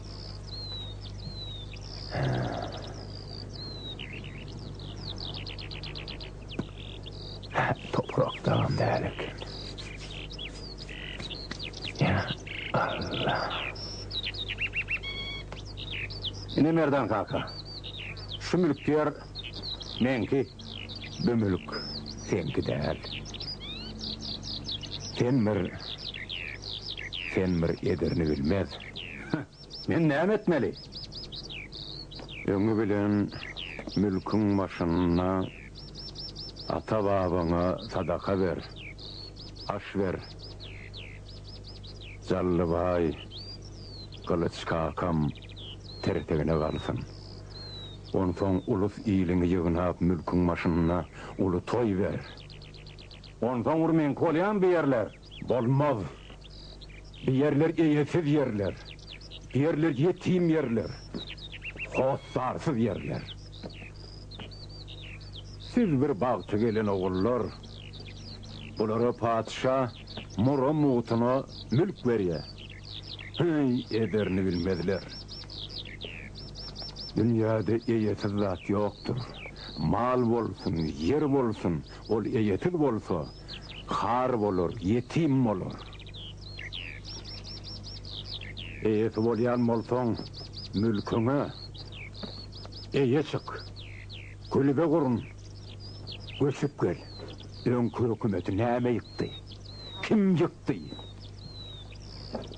Ine Merdan kaka, şu mülk ýer meňki, bu mülk seňki däl. Sen bir, sen bir ederini bilmez. Heh, men näme etmeli? Öňi bilen mülküň başynda ata-babaňa sadaka ber, aş ber. Jallybaý Gylyç kakam tertegine galsyn. Onsoň ulus-iliňi ýygnap mülküň başynda uly toý ber. Onsoňr meňki bolýan bu ýerler. Bolmaz. Bi ýerler eýesiz ýerler. Bi ýerler ýetim ýerler. Hossarsyz ýerler. Siz bir bagty gelen ogullar. Bulara patyşa mura mugtuna mülk berýär. Heý, ederini bilmezler. Dünýäde eýesiz zat ýokdur. Mal bolsun, ýer bolsun, ol eýesiz bolsa, Har bolar, ýetim bolar. Eýesi bolýan bolsaň, mülküňe eýe çyk. Kulübe gurun. Göçüp gel. Öňki hökümeti näme ýykdy? Kim ýykdy?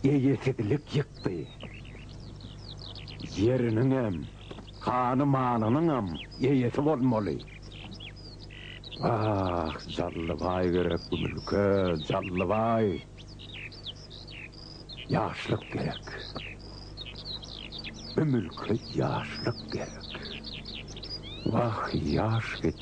Eýesizlik ýykdy. Ýeriniňem. Hany-malynyňam eýesi bolmaly. Wah, Jallybaý gerek bu mülke, Jallybaý! Ýaşlyk gerek. Bu mülke ýaşlyk gerek. Wah, ýaş git.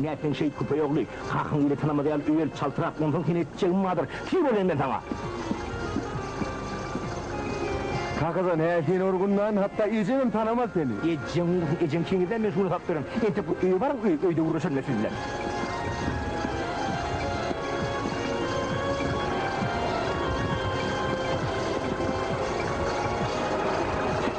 Näet sen şeýt küpe ýogly, kakyň bile tanamaz ýaly öýelip çaltrak, onsoň seni etjegim bardyr, tiz bolaýyn men saňa. Kakajan, hä, seni urgundan, hatda ejeňem tanamaz seni. Ejeň ursun, ejeň çeňirdän men şuny sap beren. Entek öýe baryň, öý, öýde gürleşerin men siz bilen.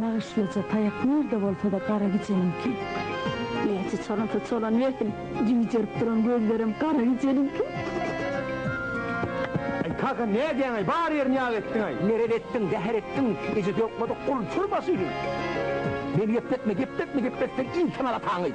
Nagyşlyja taýak nirde bolsada gara gijeniňki. Näçe çalansa çalanybersin, jüwjerip duran gözlerem gara gijeniňki. Aý kaka nädýäňaý bar ýerini ýag etdiňaý. Merez etdiň, zäher etdiň, eje dökmedik gul çür başyny. Meni gepletme, gepletme, gepletseň il tanar ataňy.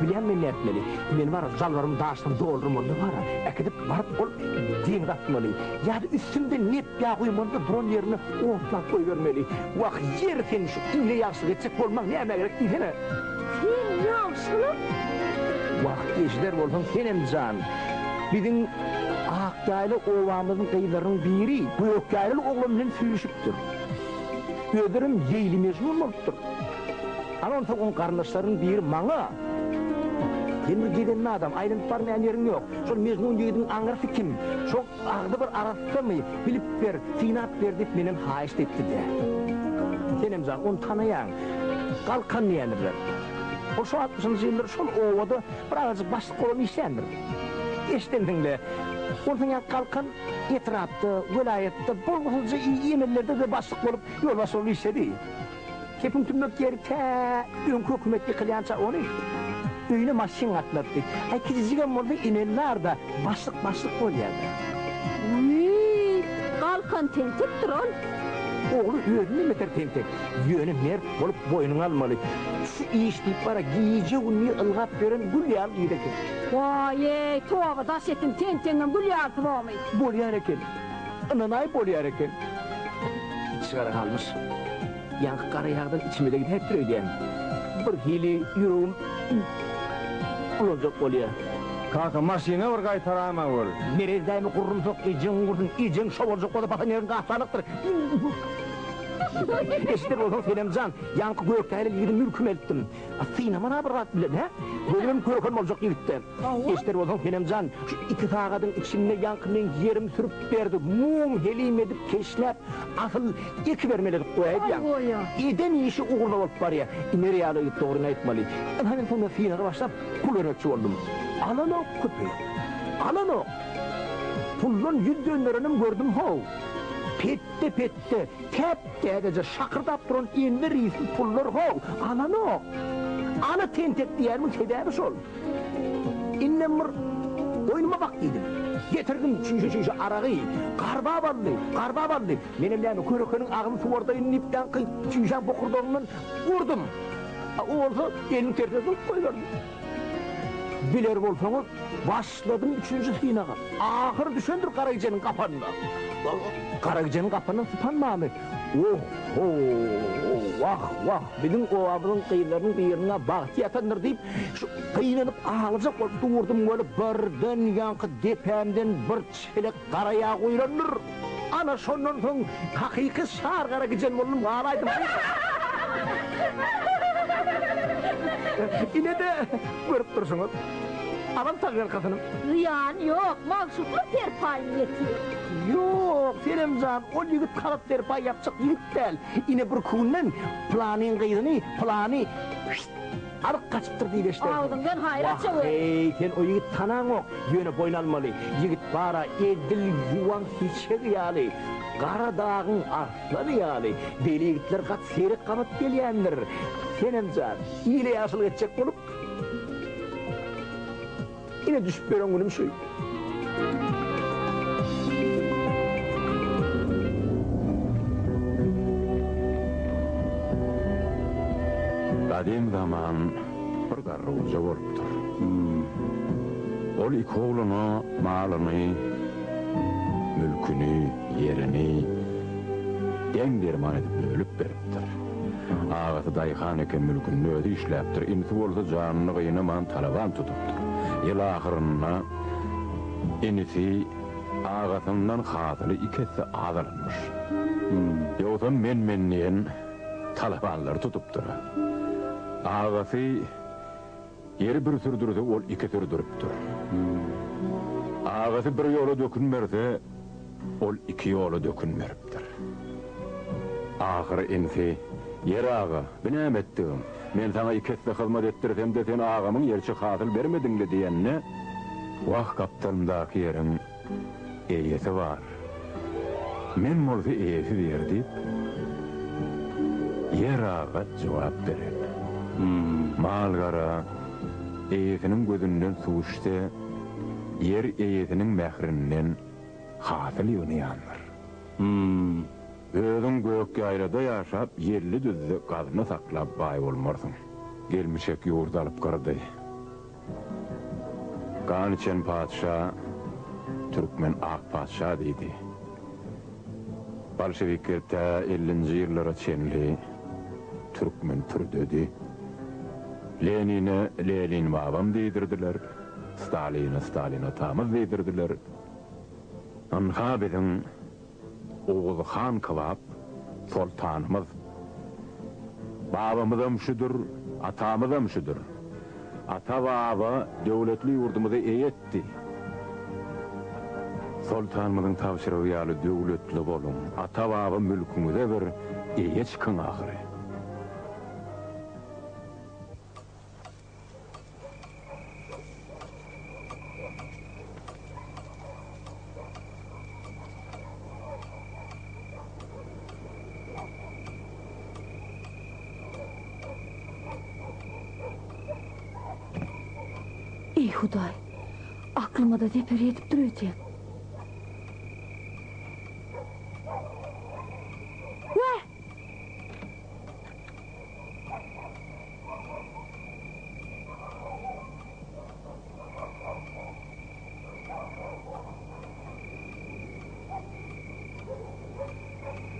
Bilýän men nätmeli. Men baryp jalbarym daşdan dolduryp onda bara, äkidip baryp ol deňze atmaly. Ýa-da üstümde nep ýa guýmanda duran ýerine otlap goýbermeli. Wah, ýeri seň şu ine ýagşylyk etjek bolmaň nämä gerek diýsene. Sen ýagşylyk? Wah, eşider bolsaň senem jan. Biziň Akýaýly obamyzyň gyzlarynyň biri Gökýaýlyly oglan bilen süýşüpdir. Özlerem Leýli-Mejnun bolupdyr. Ana onsoň oň garyndaşlarynyň biri maňa, Sen bir gezenme adam, aýlanyp barmaýan ýeriň ýok. Şol mejnun ýigidiň aňyrsy kim? Şo agzybir arassamy? Bilip ber, synap ber diýip menden haýyşt etdi-de. Senem jan, ony tanaýaň. Galkan diýendirler. Ol şo altmyşynjy ýyllary şol obada bir azajyk başlyk bolup işleýändir. Eşidensiň-le, onsoň ýa Galkan etrapda, welaýatda bolgusyzja emellerde-de başlyk bolup, ýolbaşçy bolup işledi. Kepiň tümmek ýeri tä öňki hökümet ýykylýança ony öýüne maşyn gatnatdy. Aý kijijigem bolsa inen bar-da, başlyk başlyk bolýar-da. Wiý, galkan tentekdir ol. Ogly özünden beter tentek. Ýöne mert bolup boýnuňa almaly. Şu iş diýip bara gije-gündiz ylgap ýören gül ýaly yza kesik. Waý-eý, toba daş etsin, tentegiňem gül ýalysybomy? Bolýan eken. Ynanaý bolýar eken. Içgara galmyş. Ýaňky gara ýagdan içime-de gidäpdir öýdýän. Birhili ýüregim bulanjak bolýar. Kaka, maşyna bir gaýtara-m-ä bol. Merez dämi gurrumsak, ejeň ugursun, ejeň şo boljak bolsa basan ýeriň gapdalykdyr. Eşider bolsaň senem jan, ýaňky gökdäli ýigidi mülküme eltdim. Synaman-a bir zat bilen, hä? Gözüm hem görkem boljak ýigitde. Eşder bolsaň senem jan, şu iki sagadyň içinde ýaňky men ýerim sürüp giderdi, mum helim edip keşläp, asyl eki bermeli edip goýaýdýaň. Eden işi ugruna bolup barýa. Iner ýaly ýigit dogryny aýtmaly. Ynha men sunda synaga başlap, pul bermekçi boldum. Alanok, köpeýok. Alanok. Puldan ýüz dönderenem gördüm how. Petde-petde, täp-täzeje şakyrdap duran enwer ysly pullar how, alanok. Ala tentek diýýärmiň sebäbi şol. Indem bir oýnuma bak diýdim. Getirdim çüýşe-çüýşe aragy. Garbap aldy, garbap aldy. Menem näme, körekeniň agzy suwardaýyn diýip daňky çüýşäň bokurdagyndan urdum. A o bolsa eliniň tersine sygyp goýberdi. Biler bolsaňyz, başladym üçünji synaga. Ahyry düşendir Garagijeniň gapanyna. Garagijeniň gapanyny sypan many. Wooh hoow wah wah biziň obamyzyň gyzlarynyň birine bagty ýatandyr diýip gynanyp aglajak bolup durdum weli birden ýaňky depämden bir çelek gara ýag guýlandyr ana şondan soň hakyky şar gara gijen boldum galaýdym inede görüp durşuňyz alam tagyr kasyny. Zyýany ýok, magşuklar serpaýyny ýetir. Ýok, Senem jan, ol ýigit harakteri paýapjyk ýigit däl. Ine bir künden Pylanyň gyzyny pylany Şşşt! alyp gaçypdyr diýip eşidersiň. Agzyňdan haýyr aç öwez. Wah-eý, sen o ýigiti tanaňok, ýöne boýun almaly. Ýigit bar-a, edil ýuwan hiçegi ýaly, gara dagyň arslany ýaly. Beýle ýigitler gaty seýrek gabat gelýändir. Senem jan, ile ýagşylyk etjek bolup. Ine düşüp ýören günüm şu. Gadym zaman bir garrygulja bolupdyr. Ol iki ogluna malyny, mülküni, ýerini deň-derman edip bölüp beripdir. Diýipdir. Agasy daýhan eken mülkünde özi işläpdir, inisi bolsa janyny gynaman talaban tutupdyr. Ýyl ahyrynda inisi agasyndan hasyly iki esse az alanmyş. Ýogsam men-men diýen talabanlary tutupdyr. Agasy Ýeri bir sürdürse, ol iki sürdüripdir. Agasy bir ýola dökün berse, ol iki ýola dökün beripdir. Ahyry inisi, Ýeri aga, bi näme etdigiň? Men saňa iki esse hyzmat etdirsem-de, sen agamyň ýeriçik hasyl bermediň-le diýende, Wah, gapdalymdaky ýeriň. Eýesi bar. Men bolsa eýesi ber diýip, ýer-agat jogap beren. Mal-gara eýesiniň gözünden suw içse, ýer eýesiniň mährinden hasyl ýygnaýandyr. Özüň Gökýaýlada ýaşap, ýelli-düzde gazna saklap baý bolmarsyň. Gelmişek ýurt alyp gyrdy. Gan içen patyşa, Türkmen ak patyşa diýdi. Bolşewikler tä ellinji ýyllara çenli türkmen pürdedi. Lenine Lenin babam diýdirdiler, Staline Stalin atamyz diýdirdiler. Ynha biziň Oguz han kybap soltanymyz. Babamyzam şudur, atamyzam şudur. Ata-baba döwletli ýurdumyza eýe etdi. Soltanymyzyň tabşyrygy ýaly döwletli boluň, ata-baba mülküňize bir eýe çykyň ahyry. Ey Hudaý, aklyma da zeper edip dur öýdýän.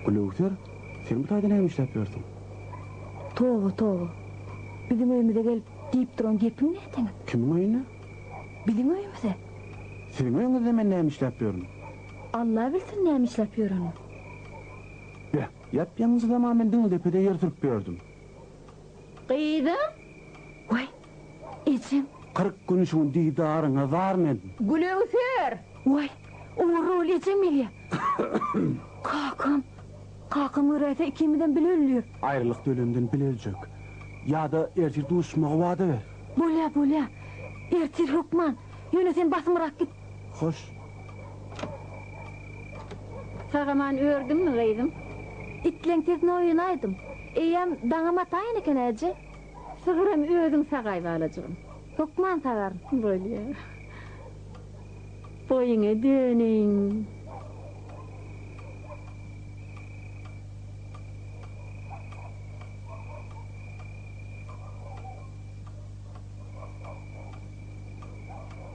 Gülöwser, sen bu taýda näme işläp ýörsüň? Toba, toba. Biziň öýümize gelip, diýip duran gepiň näteniň? Kimiň öýüne? Biziň öýümize. Siziň öýüňizde men näme işläp ýörün? Alla bilsin näme işläp ýöreniňi. Beh, ýap-ýaňjy zaman men diňe depede ýer sürüp ýördüm. Gyzym! Waý, ejem! Kyrk gün şuň didaryňa zar men. Güleüser! Waý, ugruk bol, ejem gelýär. Kakam! Kakam göräýse, ikimizem bile ölüris. Aýralyk dölemden bile öljek. Ýa-da ertir duşmagy wada ber. Bolýar, bolýar. Ertir hökman. Ýöne sen basymrak git. Hoş. Sagaman ördüňmi gyzym? Itleňkesine oýanaýdym. Eýýäm daňam ataýyn eken äje. Sygyram özüň sagaý balajygym. Hökman sagar. Bolýa. Boýuňa döneýin.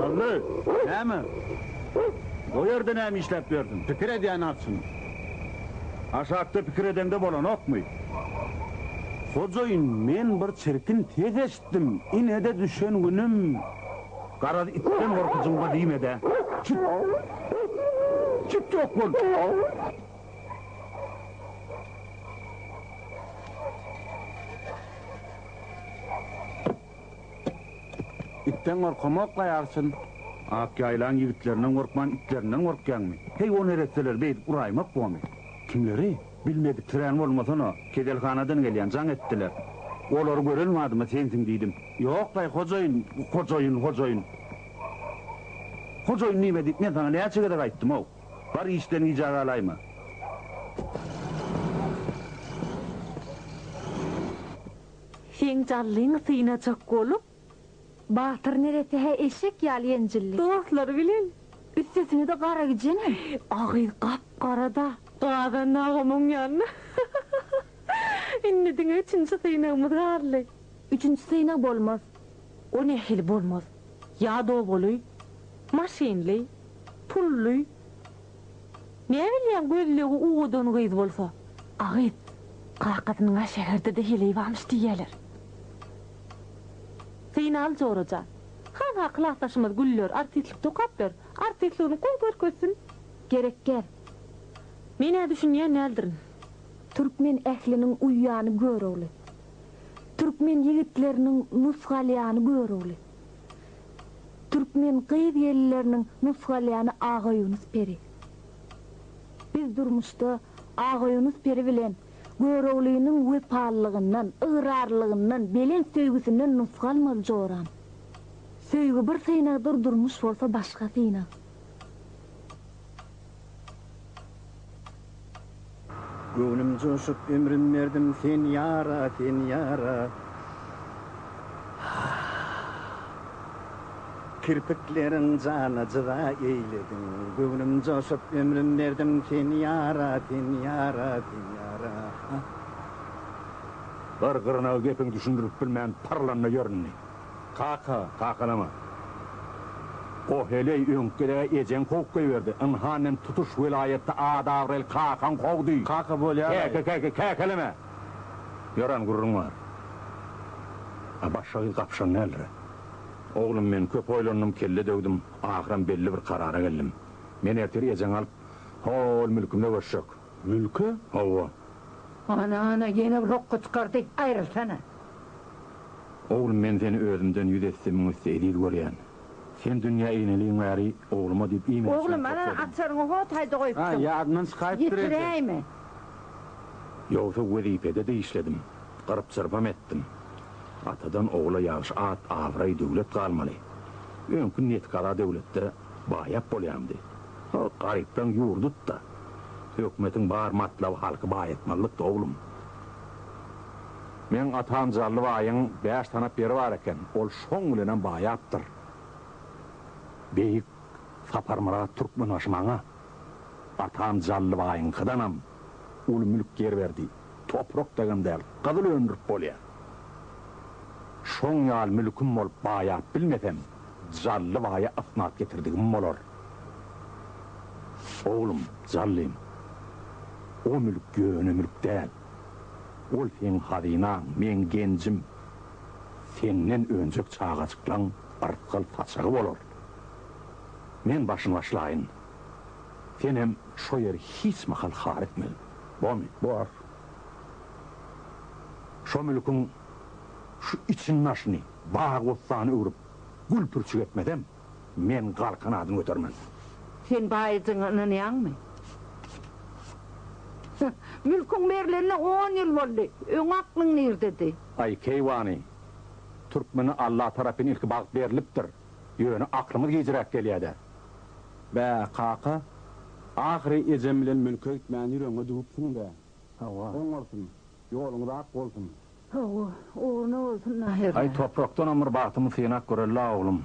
Hally, näme? O ýerde näme işläp ýörsüň? Pikir edýän atçym. Aşakda pikir edeňde bolanokmy? Hojaýyn, men bir çirkin ses eşitdim. Ine-de düşen günüm. Garaz, itden gorky jyňba diýme-dä. Çüt! Çüt ýok bol! Itden gorkamokla ýarsyn. Ak ýaýlaň ýigitlerinden gorkman itlerinden gorkýaňmy? Heý o neresseler beýdip uraýmak bomy? Kimleri? Bilmediklerän bolmasana. Keselhanadan gelýän, jaň etdiler. Olary gören badyma sensiň diýdim. Ýoklaý hojaýyn, hojaýyn, hojaýyn. Hojaýyn diýme diýip men saňa näçe gezek aýtdym-ow. Bar işden gija galaýma. Seň jallyň synajak bolup. Batyr neresi-hä eşek ýaly enjildi. Dostlary bilen, üstesine-de Garagijenem. A gyz gap-gara-da. Gazandy agam oň ýanyna. Indi diňe üçünji synagymyz galdy. Üçünji synag bolmaz. O nähili bolmaz? Ýa dobaly, maşynly. Pully. Näme bilýäň gözlegi owadan gyz bolsa. A gyz. Kakasynyň a şäherdede heleý barmyş diýýäler. Zeýnal jorajan. Hanha klasdaşymyz Güller artistlikde okapdyr. Artistligini gowy görkezsin. Gerekgär. Men ä düşünýän däldirin. Türkmen ähliniň uýýany görogly. Türkmen ýigitleriniň nusgalýany görogly. Türkmen gyz-gelinleriniň nusgalyany Agaýunus peri. Biz durmuşda Agaýunus peri bilen Göroglynyň wepalylygyndan, ygrarlylygyndan, belent söýgüsinden nusga almaly joram. Söýgi bir synagdyr durmuş bolsa başga synag. Göwnüm joşup ömrüm berdim sen ýara sen ýara Kirpikleriň jana jyda eýlediň Göwnüm joşup ömrüm berdim sen ýara sen ýara sen ýara Gyr gyrnagy gepiň düşündirip bilmän pyrlanda ýöründi. Kaka, kakalama. O heleý öňküde-ä ejeň kowup goýberdi. Ynha, men tutuş welaýatda ad-abraýly kakaň kowdy. Kaka bolýar-laý. Käke, käke, käkeleme. Ýören gürrüň bar. A başga gyz gapyşan däldir-ä. Oglum, men köp oýlandym, kelle döwdüm, ahyram belli bir karara geldim. Men ertir ejeňi alyp, hol mülkümde göçjek. Mülke hawa. Ana ana ýene bir hokga çykardy. Aýrylsana. Oglum men seni özümden ýüz esse müň esse eziz görýän. Sen dünýä ineliň bäri ogluma diýip iýmit üçin Oglum ana topladym. açaryňy ho taýda goýupdyň. A ýadymdan çykaýypdyr eje. Ýetiräýme. Ýogsa wezipede dişledim. Gyrp çyrpam etdim. Atadan ogula ýagşy at abraý döwlet galmaly. Öňki netkaza döwletde. Baýap bolýamdy. Ol garypdan ýur dut-da. Hökümetiň bar matlaby halky baýatmazlykdy, oglum. Meň atam Jally baýyň bäş tanap ýeri bar eken, ol şoň bilenem baýapdyr. Beýik Saparmyrat Türkmenbaşy maňa atam Jally baýyňkydanam uly mülk ýer berdi. Toprak dagam däl, gyzyl öndürip bolýar. Şoň ýaly mülkim bolup baýap bilmesem, Jally baýa ysnat getirdigim bolar. Oglum, Jallym, o mülk ýöne mülk däl. Ol seň hazynaň, meň genjim. Senden önjek çagajyklaň rysgal saçagy bolar. Men başyny başlaýyn. Senem şo ýeri hiç mahal har etmegin. Bony, bor. Şo mülküň şu içini-daşyny bagy-bossana öwrüp, gül-pürçük etmesem, men galkan adyny götermen. Sen baýyjyňa ynanýaňmy? Hä, mülküň berlenine on ýyl boldy. Öň aklyň nirdedi? Aý, keýwany, türkmene Alla tarapyn ilki bagt berlipdir. Ýöne aklyňyz gijräk gelýä-dä. Bä, kaka, ahyry ejem bilen mülke gitmän ýüregiňe düwüpsiň-dä. Hawa. Oňarsyn. Ýoluňyz ak bolsun. Hawa, ugruna bolsun Naherle. Aý, toprakdanam bir bagtymy synap göreli-la, oglum.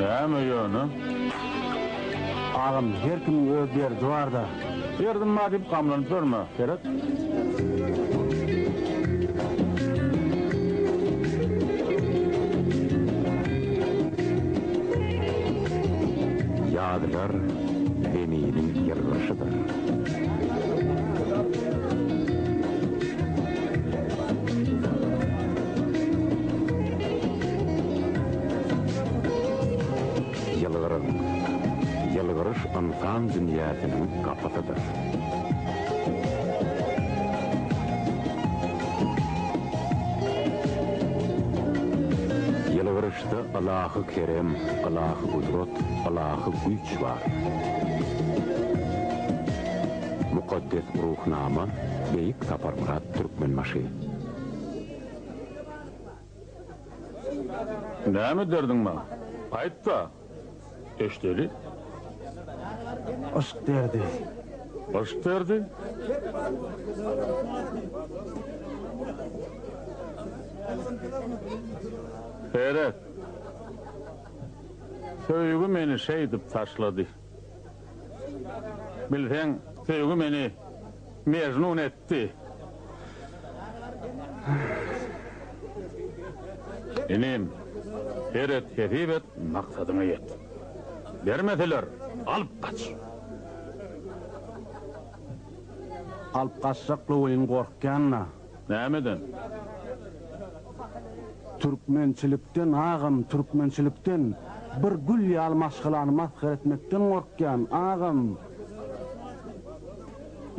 Näme ýöne? Agam, her kimiň öz derdi bar-da. Derdim bar diýip gamlanyp ýörme, gerek. Ýylgyryň. Ýylgyryş ynsan dünýäsiniň gapysydyr. Ýylgyryşda ylahy kerem, ylahy gudrat, ylahy güýç bar. Mukaddes Ruhnama, Beýik Saparmyrat Türkmenbaşy. Näme derdiň maň? Aýt-da, eşdeli. Yşk derdi. Yşk derdi? Seret. Söýgi meni şeýdip taşlady. Bilseň, söýgi meni Mejnun etdi. Inim, her et, hesip et, maksadyňa ýet. Bermeseler, alyp gaç. Alyp gaçjak gowyň gorkýan-la. Nämeden? Türkmençilikden agam türkmençilikden bir gül ýaly maşgalany masgara etmekden gorkýan agam.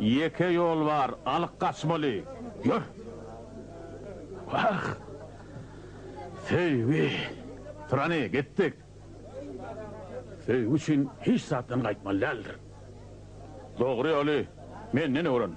Ýeke ýol bar alyk gaçmaly ýör. Wah! Söýgi. Turany gitdik. Söýgi üçin hiç zatdan gaýtmaly däldir. Dogry ýoly menden öwren.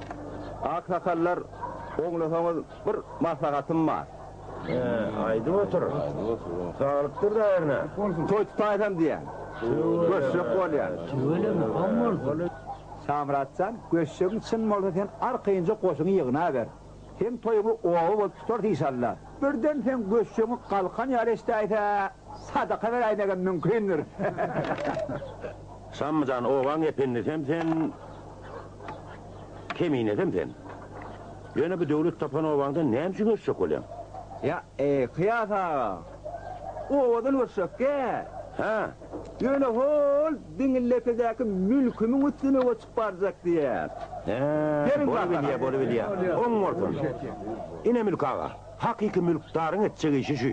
Aksakallar oňlasaňyz bir maslahatym bar. Aýdyp otur. Galypdyr daýyryna. Toý tutaýsam diýýän. Göçjek bolýan. Tüweleme goň bolsun. Şamyrat jan, göçjegiň çyn bolsa sen arkaýynja goşuňy ýygnaber. Seň toýuňy oba bolup tutarys işalla. Birden seň göçjegiň galkan ýaly eşdäýse. Sadaka beräýmegem mümkindir. Şamyjan obaň ependisem sen, keminesem sen. Ýöne bu döwlet tapan obaňdan näme üçin göçjek bolýaň? Ýa, eý, Kyýas aga, obadan göçjek-dä. Hä? Ýöne hol diňi lekedäki mülkümiň üstüne göçüp barjak diýýär. Hä, bolubilýär, bolubilýär. Oň bolsun. Ine, Mülk aga, hakyky mülkdaryň etjek işi şu.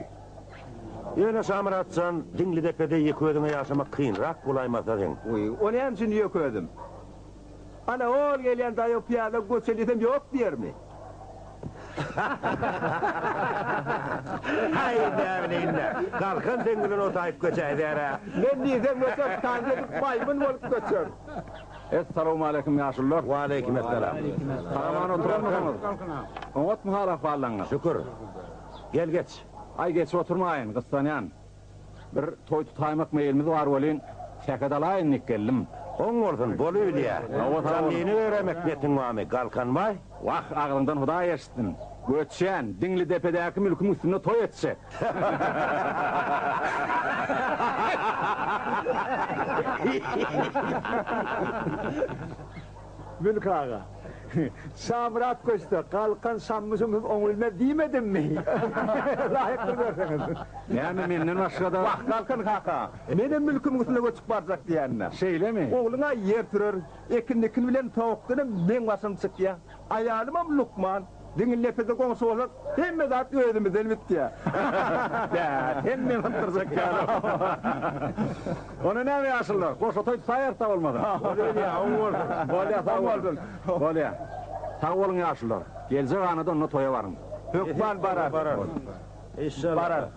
Ýöne Şamyrat jan, Diňlidepede ýeke özüňe ýaşamak kynrak bolaýmasa geň. Wiý, o näme üçin ýeke özüm? Ana, ol gelýän daýaw pyýada göçe diýsem ýok diýermi? Haý, näbileýin-dä. Galkan seň bilen otaýyp göçäýdär-ä. Men diýsem göçe tan gezip maýmyn bolup göçer. Essalawmaleýkim, ýaşulylar! Waleýkimessalam. Sag-aman oturanmysyňyz? Oňatmy hal-ahwallaryňyz? Şükür. Gel geç. Aý geç oturmaýyn, gyssanýan. Bir toý tutaýmak meýilimiz bar welin, sähet alaýyn diýip geldim. Oň bolsun, bolubilýä. Janlyny göremek netin barmy, Galkanbaý? Wah, agzyňdan Hudaý eşitsin. Göçýän, Diňlidepedäki mülkümiň üstünde toý etjek. Mülk aga. Şamyrat köşde, galkan şammyşym hüm oň bilmez diýmedimmi? Laýykdyr görseňiz. Näme menden başga-da? Wah, galkan kaka, menem mülkümiň üstüne göçüp barjak diýändä. Şeýlemi? Ogluň-a ýer sürer, ekin-dikin bilen towukdanam meň başym çykýa. Aýalymam lukman. Diňe nepede goňşy bolsak, hemme zat özümizden bitýär. Bä, hemmeň sypdyrjak ýaly. Onda näme ýaşullar, goşa toý tutarýarys-da bolmasa. Bolýa, oň bolsun. Bolýa, sag boluň. Bolýa. Sag boluň ýaşullar. Geljek anada onda toýa baryň. Hökman bararys. Bararys. Bararys.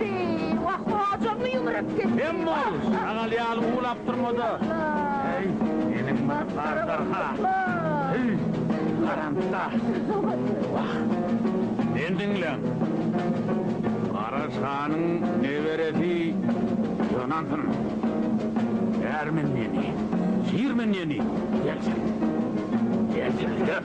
Eý, wah, hojammy ýumrup gitdi. Hem bol, şagal ýaly uwlap durma-da. Heý, meniň bar gardarha. Heý, garantda. Wah. Men diňläň. Gara şanyň neberesi ýanansyn. Bärmen ýeni, şirmen ýeni, ýetir. Ýetir, ýet.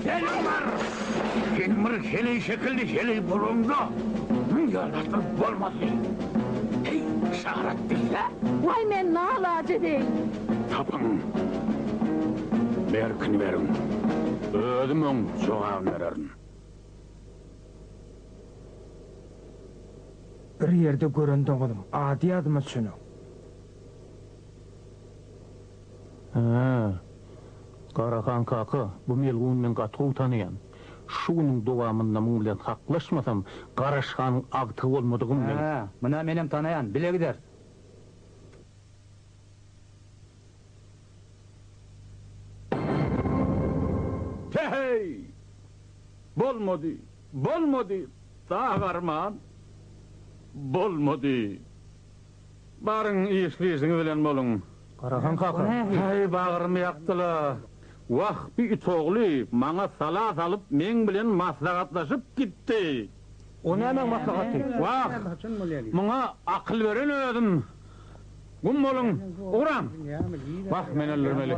Sen oňar! Seniň bir heleý şekilli heleý boluňda müň ýoldaşlar bolmazdy. Heý, şarat bilse! Waý men nalaje deý! Tapyň! Berkini beriň! Özüm oň jogabyny bererin. Bir ýerde gören doňuzym, ady ýadyma çüni. Hä. Garahan kaka, bu melguny men gaty gowy tanýan. Şu günüň dowamynda muň bilen haklaşmasam, Garaş hanyň agtygy bolmadygym bilen. Hä, muny menem tanaýan, bile gideris. He-heý! Bolmady, bolmady, Dagarman! Bolmady! Baryň işli-işiňiz bilen boluň. Garahan kaka. Häý, bagrymy ýakdyla. Wah, bu it ogly maňa sala salyp, meň bilen maslahatlaşyp gitdi. O nämäň maslahaty? Wah, muňa akyl beren özüm. Gum boluň, ugraň. Wah, men öldürmeli.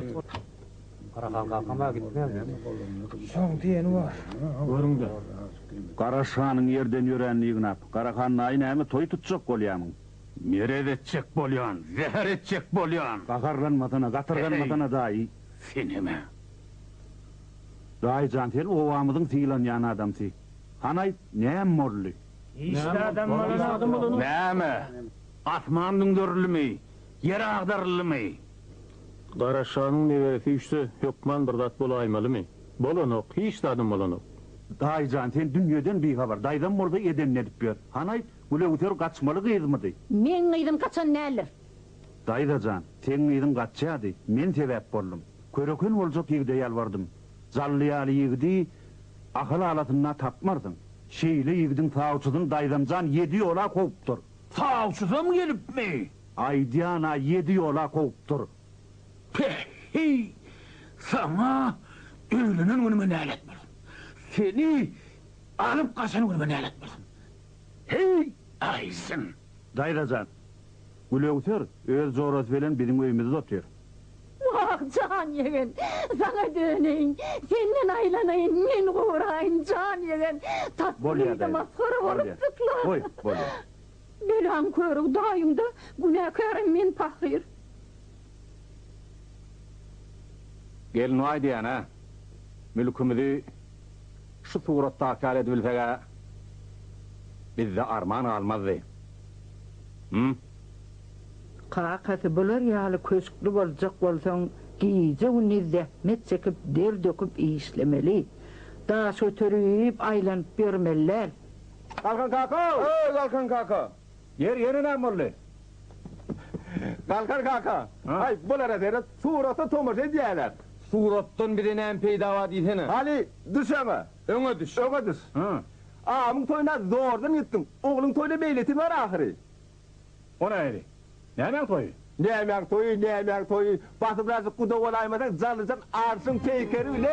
Garahan kakam-a gitmän diýdi. Soň diýeni bar. Görüň-de, Garaş hanyň ýerden ýöränini ýygnap, Garahan naýy näme toý tutjak bolýamyň? Merez etjek bolýan, zäher etjek bolýan! Gaharlanmasana, gatyrganmasana, daýy. Senem-ä! Daýy jan, sen obamyzyň sylanýan adamsy. Han aýt, näme boldy? Işde adam bolany. Näme? Asman düňderildimi? Ýer agdaryldymy? Gara şanyň neberesi üşse hökman bir zat bolaýmalymy? Bolanok, hiç zadam bolanok. Daýyjan sen dünýeden bihabar, daýzam bolsa edenini edip ýör. Hany aýt, Gülewser gaçmaly gyzmydy? Meň gyzym gaçan däldir. Daýzajan, seň gyzyň gaçýardy, men sebäp boldum. Köreken boljak ýigide ýalbardym. Jally ýaly ýigidi Ahal alasynda tapmarsyň. Şeýle ýigidiň sawçysyny daýzamjan ýedi ýola kowupdyr. Sawçysam gelipmi? Aýdýan-a ýedi ýola kowupdyr. Päh-heý! Saňa öýlenen günüme nälet bolsun! Seni alyp gaçan günüme nälet bolsun! Heý, aýsyn! Daýza jan, Gülöwser öz jorasy bilen biziň öýümizde otyr. Wah, jan ýegen, saňa döneýin, senden aýlanaýyn, men guraýyn, jan ýegen, tatly diýdi, masgara bolup, syklap. Bolýar, goý, bolýar. Belaň körügi daýyňda, günäkärem men pahyr. Gelin waý diýýän-ä. Mülkümizi şu suratdaky ýaly edibilseg-ä, bizde arman galmazdy. Hum. Kakasy bular ýaly köşkli boljak bolsaň, gije-gündiz zähmet çekip, der döküp işlemeli. Daşöteri iýip aýlanyp ýörmeli däl. Galkan kaka! Öý, Galkan kaka! Ýer ýene näme boldy? Galkan kaka! Aý, bulara seret, surata tomaşa edýärler. Suratdan bize näme peýda bar diýsene? Hany, düş öňe! Öňe düş! Öňe düş! Agamyň toýuna zordan gitdiň, ogluň toýuna meýletin bar ahyry. O nähili? Nämäň toýy? Nämäň toýy, nämäň toýy? Batyrazy guda bolaýmasaň, Jalyjan arşyň peýkeri bilen.